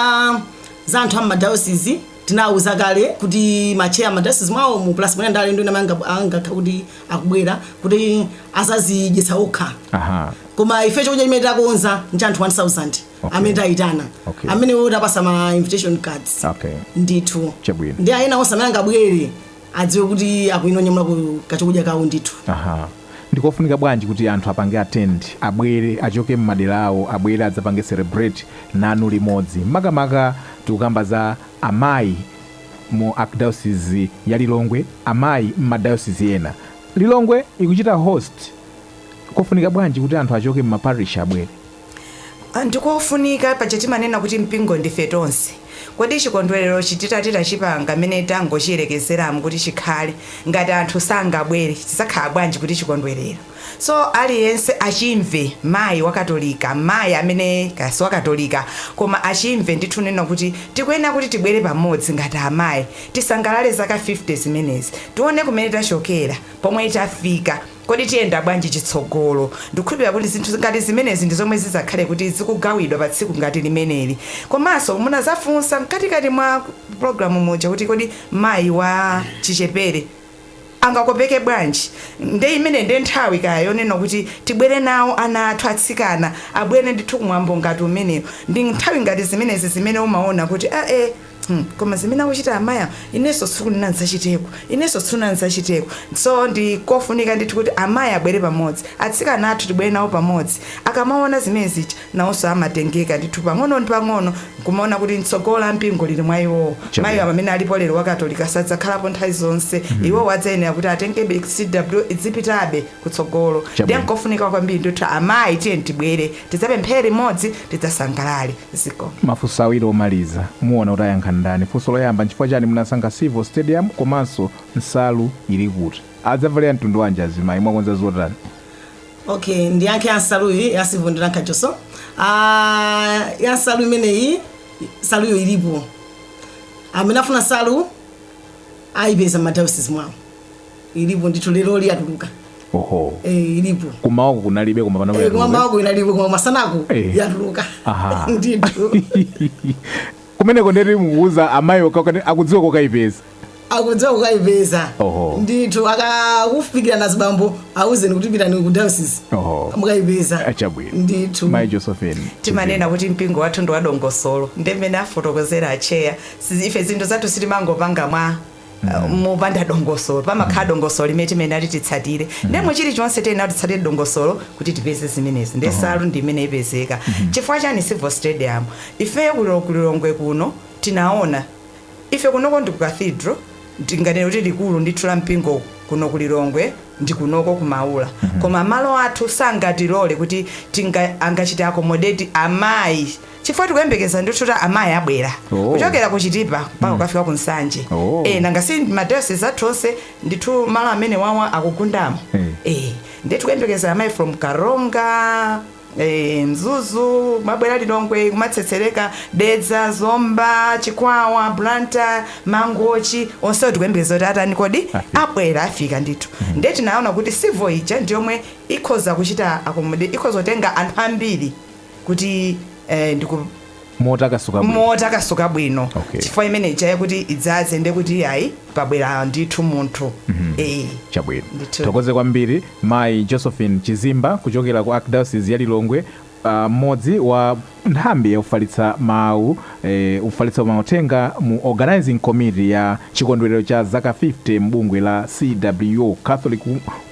Speaker 1: za anthu a m'madayosizi Tinauza kale kuti ma chair ma diocese mwawomu plus mwina ndi alendo ena amene angakhale kuti akubwera kuti azazidyetsa okha Aha. koma ife chakudya chimene takonza n'cha anthu 1000 Okay. amene tayitana Okay. amene tapasa ma invitation cards Okay. ndithu Chabwino. nde ena onse amene angabwere adziwe kuti akuyenera kunyamula kachokudya kawo ndithu. Aha. Ndikofunika bwanji kuti anthu apange attend, abwere, achoke mmadera awo, abwere adzapange celebrate nanu limodzi. Makamaka tikukamba za amayi mu Archdiocese ya Lilongwe, amayi mma diocese ena. Lilongwe ikuchita host, kofunika bwanji kuti anthu achoke mma parish abwere? Ndikofunika, paja timanena kuti mpingo ndife tonse. Kodi chikondwererochi titati tachipanga mmene tangochiyerekezeramu kuti chikhale, ngati anthu sangabwere chidzakhala bwanji kuti chikondwerero? So aliyense achimve, mayi wa katolika, mayi amene kaya si wa katolika koma achimve ndithu kunena kuti tikuyenera kuti tibwere pamodzi ngati amayi, tisangalale zaka 50 zimenezi, tione kumene tachokera, pomwe tafika. Kodi tiyenda bwanji chitsogolo? Ndikukhulupilira kuti zinthu ngati zimenezi ndi zomwe zidzakhale kuti zikugawidwa pa tsiku ngati limeneli. Komanso munazafunsa mkatikati mwa pulogalamu muja kuti kodi mayi wa chichepere angakopeke bwanji? Nde imeneyi nde nthawi yake yonena kuti tibwere nawo ana athu atsikana abwere ndithu ku mwambo ngati umenewu. Ndi nthawi ngati zimenezi zimene umaona kuti aa! Hmm, koma zimene akuchita amayi awo inenso tsiku lina ndidzachiteko inenso tsiku lina ndidzachiteko so ndi kofunika ndithu kuti amayi abwere pamodzi atsikana athu tibwere nawo pamodzi akamaona zimene zija nawonso amatengeka ndithu pang'ono ndi pang'ono nkumaona kuti tsogolo la mpingo lili mwa iwowo Chabwino. mayi awo amene alipo lero wakatolika sadzakhalapo nthawi zonse iwowo adzayenera kuti atengebe CWO idzipitabe kutsogolo ndiye Chabwino. nkofunika kwambiri ndithu amayi tiyeni tibwere tidzapemphere limodzi tidzasangalale zikomo mafunso awiri omaliza muona kuti ayankha ndani funso loyamba nchifukwa chani munasankha Civo Stadium komanso nsalu ili kuti adzavalira mtundu wanji azimayi mwakonza zotani okay ndiyankhe yansaluyi ya Civo ndi ya Nkhachoso Ah, yansalu imeneyi nsaluyo ilipo amene afuna nsalu ayipeza m'madayosisi mwawo ilipo ndithu leroli yatuluka oho eh, ilipo kummawaku kunalibe koma panopa Eh, yatuluka. kummawaku inalibe koma masanaku Eh. yatuluka Aha. ndithu kumeneko ndeti mukuuza amayi akakhala akudziwa kokayipeza akudziwa kokayipeza Oho. ndithu akakufikirani azibambo auzeni kuti pitani ku diocese oho mukayipeza achabwino ndithu mayi josephine timanena kuti mpingo wathu ndi wadongosolo nde mmene afotokozera acheya Si- ife zinthu zathu sitimangopanga mwa Uh, mopanda dongosolo pamakhala dongosolo limene timayenera titsatire nde mu chilichonse tiyenera titsatire dongosolo kuti tipeze zimenezi nde nsalu ndi mmene ipezeka chifukwa chani Civo Stadium ifeyo kulo- kulilongwe kuno tinaona ife kunoko ndi ku cathedral tinganene kuti likulu ndithu la mpingo kuno kulilongwe ndi kunoko kumaula koma malo athu sangatilole kuti tinga angachite accommodate amayi chifukwa tikuyembekeza ndithu kuti amayi abwera Oh. kuchokera ku chitipa mpaka kukafika ku nsanje Oh. eh, nanga si madayosisi athu onse ndithu malo amene wawa akugundamo eh, ndiye tikuyembekeza amayi from karonga eh, mzuzu kumabwera lilongwe kumatsetsereka dedza zomba chikwawa blantyre mangochi onsewo tikuyembekeza kuti atani kodi abwera afika ndithu ndiye tinaona kuti sivo ija ndiyomwe ikhoza kuchita akomode ikhoza kutenga anthu ambiri kuti eh, ndiku motakasuka bwino motakasuka bwino Okay. chifukwa imene ija ya kuti idzaze nde kuti ayi pabwera ndithu munthu eh chabwino Ndithu. tithokoze kwambiri mayi josephine chizimba kuchokera ku archdiocese ya lilongwe ah, mmodzi wa nthambi yofalitsa mawu Ofalitsa mauthenga mu Organizing Committee ya chikondwerero cha zaka 50 m'bungwe la CWO, Catholic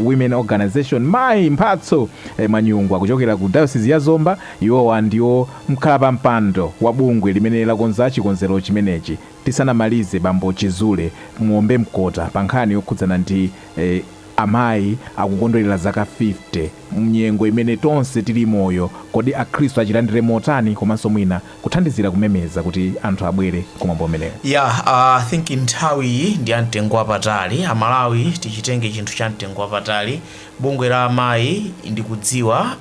Speaker 1: Women Organization, Mayi Mphatso Mwanyungwa kuchokera ku dayosizi ya Zomba, iwowa ndiwo mkhalapampando wa bungwe limene lakonza chikonzero chimenechi, tisanamalize Bambo Chizule muombe mkota pa nkhani yokhudzana ndi Amayi akukondwerera zaka 50 m'nyengo imene tonse tili moyo, kodi akhristu achilandire motani komanso mwina kuthandizira kumemeza kuti anthu abwere ku mwambo umenewu. Yeah, I think nthawi iyi ndi ya mtengo wapatali. A Malawi tichitenge chinthu cha mtengo wapatali. Bungwe la amayi ndikudziwa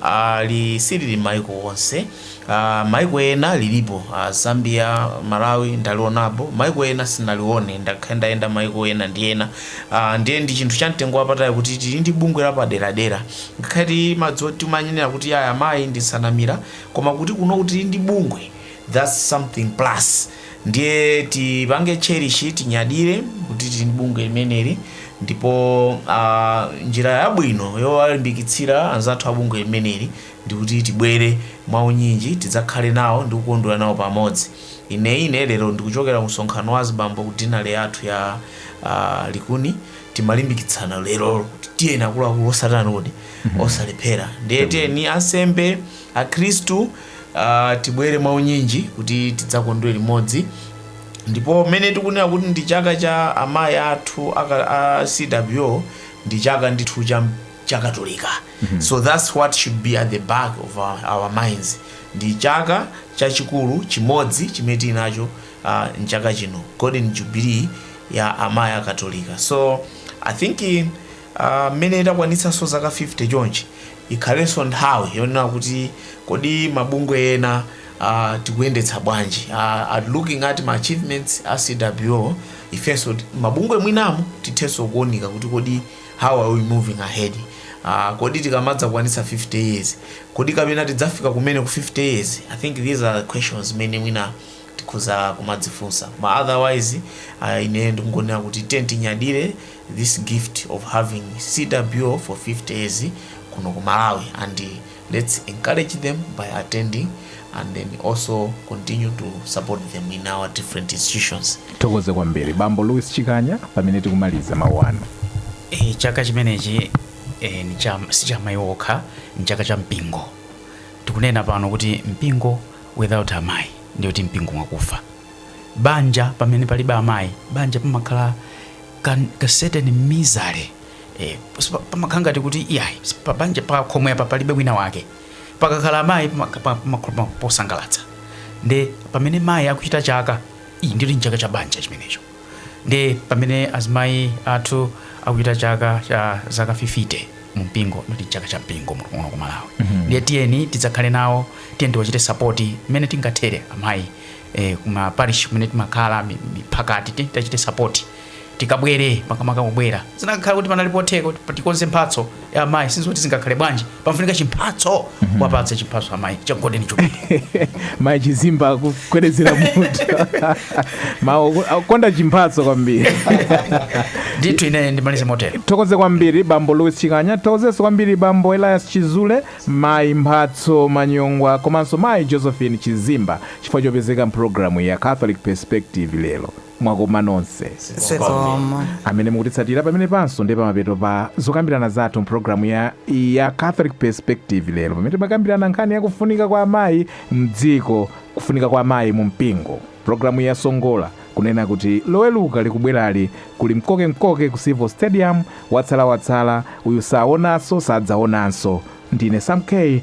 Speaker 1: lisilili maiko onse. Uh, maiko ena lilipo uh, Zambia, Malawi ndalionapo. Maiko ena sinalione ndakhala ndayenda maiko ena ndi ena. Uh, ndiye ndi chinthu cha mtengo wapatali kuti tili ndi bungwe la paderadera. Ngakhale timadziwa timanena kuti aya amayi ndi nsanamira koma kuti kuno tili ndi bungwe thats something plus ndiye tipange cherish tinyadire kuti tili ndi bungwe limeneli ndipo uh, njira yabwino yowalimbikitsira anzathu a bungwe limeneli ndikuti tibwere mwaunyinji tidzakhale nawo ndi kukondwera nawo pamodzi ine ine lero ndikuchokera ku msonkhano wa azibambo ku dinale yathu ya uh, likuni timalimbikitsana lero kuti tiyeni akuluakulu osatani kodi osalephera ndiye tiyeni ansembe akhristu ah, tibwere mwaunyinji kuti tidzakondwere limodzi ndipo mmene tikunena kuti ndi chaka cha amayi athu aka- a cwo ndi chaka ndithu chachikatolika so thats what should be at the back of our, our minds ndi chaka chachikulu chimodzi chimene tili nacho ah, mchaka chino golden jubilee ya amayi akatolika so i think eh, Aaa mmene itakwanitsanso zaka 50 chonchi, ikhalenso nthawi yonena kuti kodi mabungwe ena aah tikuyendetsa bwanji aah at looking at ma achievements a CWO ifenso mabungwe mwinamu tithenso kuunika kuti kodi how are we moving ahead aah kodi tikamadzakwanitsa 50 years kodi kapena tidzafika kumene ku 50 years I think these are questions zimene mwina tikhoza kumadzifunsa koma otherwise uh, ine ndikungonena kuti tiyeni tinyadire this gift of having cwo for 50 years kuno ku malawi and let's encourage them by attending and then also continue to support them in our different institutions tithokoze kwambiri bambo louis chikanya pamene tikumaliza mawu anu Eh, chaka chimenechi eh, ni cha- si cha mayi okha ni chaka cha mpingo tikunena pano kuti mpingo without amayi ndiye kuti mpingo mwakufa banja pamene palibe amayi banja pamakhala ka, ka certain misery eh, sipa- pamakhala ngati kuti iyayi pa banja pakhomo apa palibe wina wake pakakhala amayi pamaka- pa- pamakhala posangalatsa nde pamene mayi akuchita chaka iyi ndiye ndi chaka cha banja chimenecho nde pamene azimayi athu akuchita chaka cha zaka 50 mu mpingo ndi chaka cha mpingo mu- muno ku malawi ndiye tiyeni tidzakhale nawo tiyeni tiwachite sapoti mmene tingathere amayi eh, kuma parish kumene timakhala mi- miphakati tiyeni tiwachite sapoti tikabwere, makamaka kubwera zinakakhala kuti panali potheka kuti tikonze mphatso amayi si zoti zingakhale bwanji pamafunika chimphatso wapatse chimphatso amayi cha golden jubilee mayi chizimba kugwedezera mutu amakonda chimphatso kwambiri ndithu ine ndimalize motero tithokoze kwambiri bambo louis chikanya tithokozenso kwambiri bambo elias chizule mayi mphatso manyongwa komanso mayi josephine chizimba chifukwa chopezeka mpulogalamu ya catholic perspective lero Mwakoma nonse. Zikomo. amene mukutitsatira pamenepanso ndiye pamapeto pa zokambirana zathu mpulogalamu ya, ya catholic perspective lero pamene timakambirana nkhani ya kufunika kwa amayi mdziko kufunika kwa amayi mu mpingo pulogalamu yasongola kunena kuti loweluka likubwerali kuli mkokemkoke ku civo stadium watsalawatsala uyu saonanso sadzaonanso ndine sam k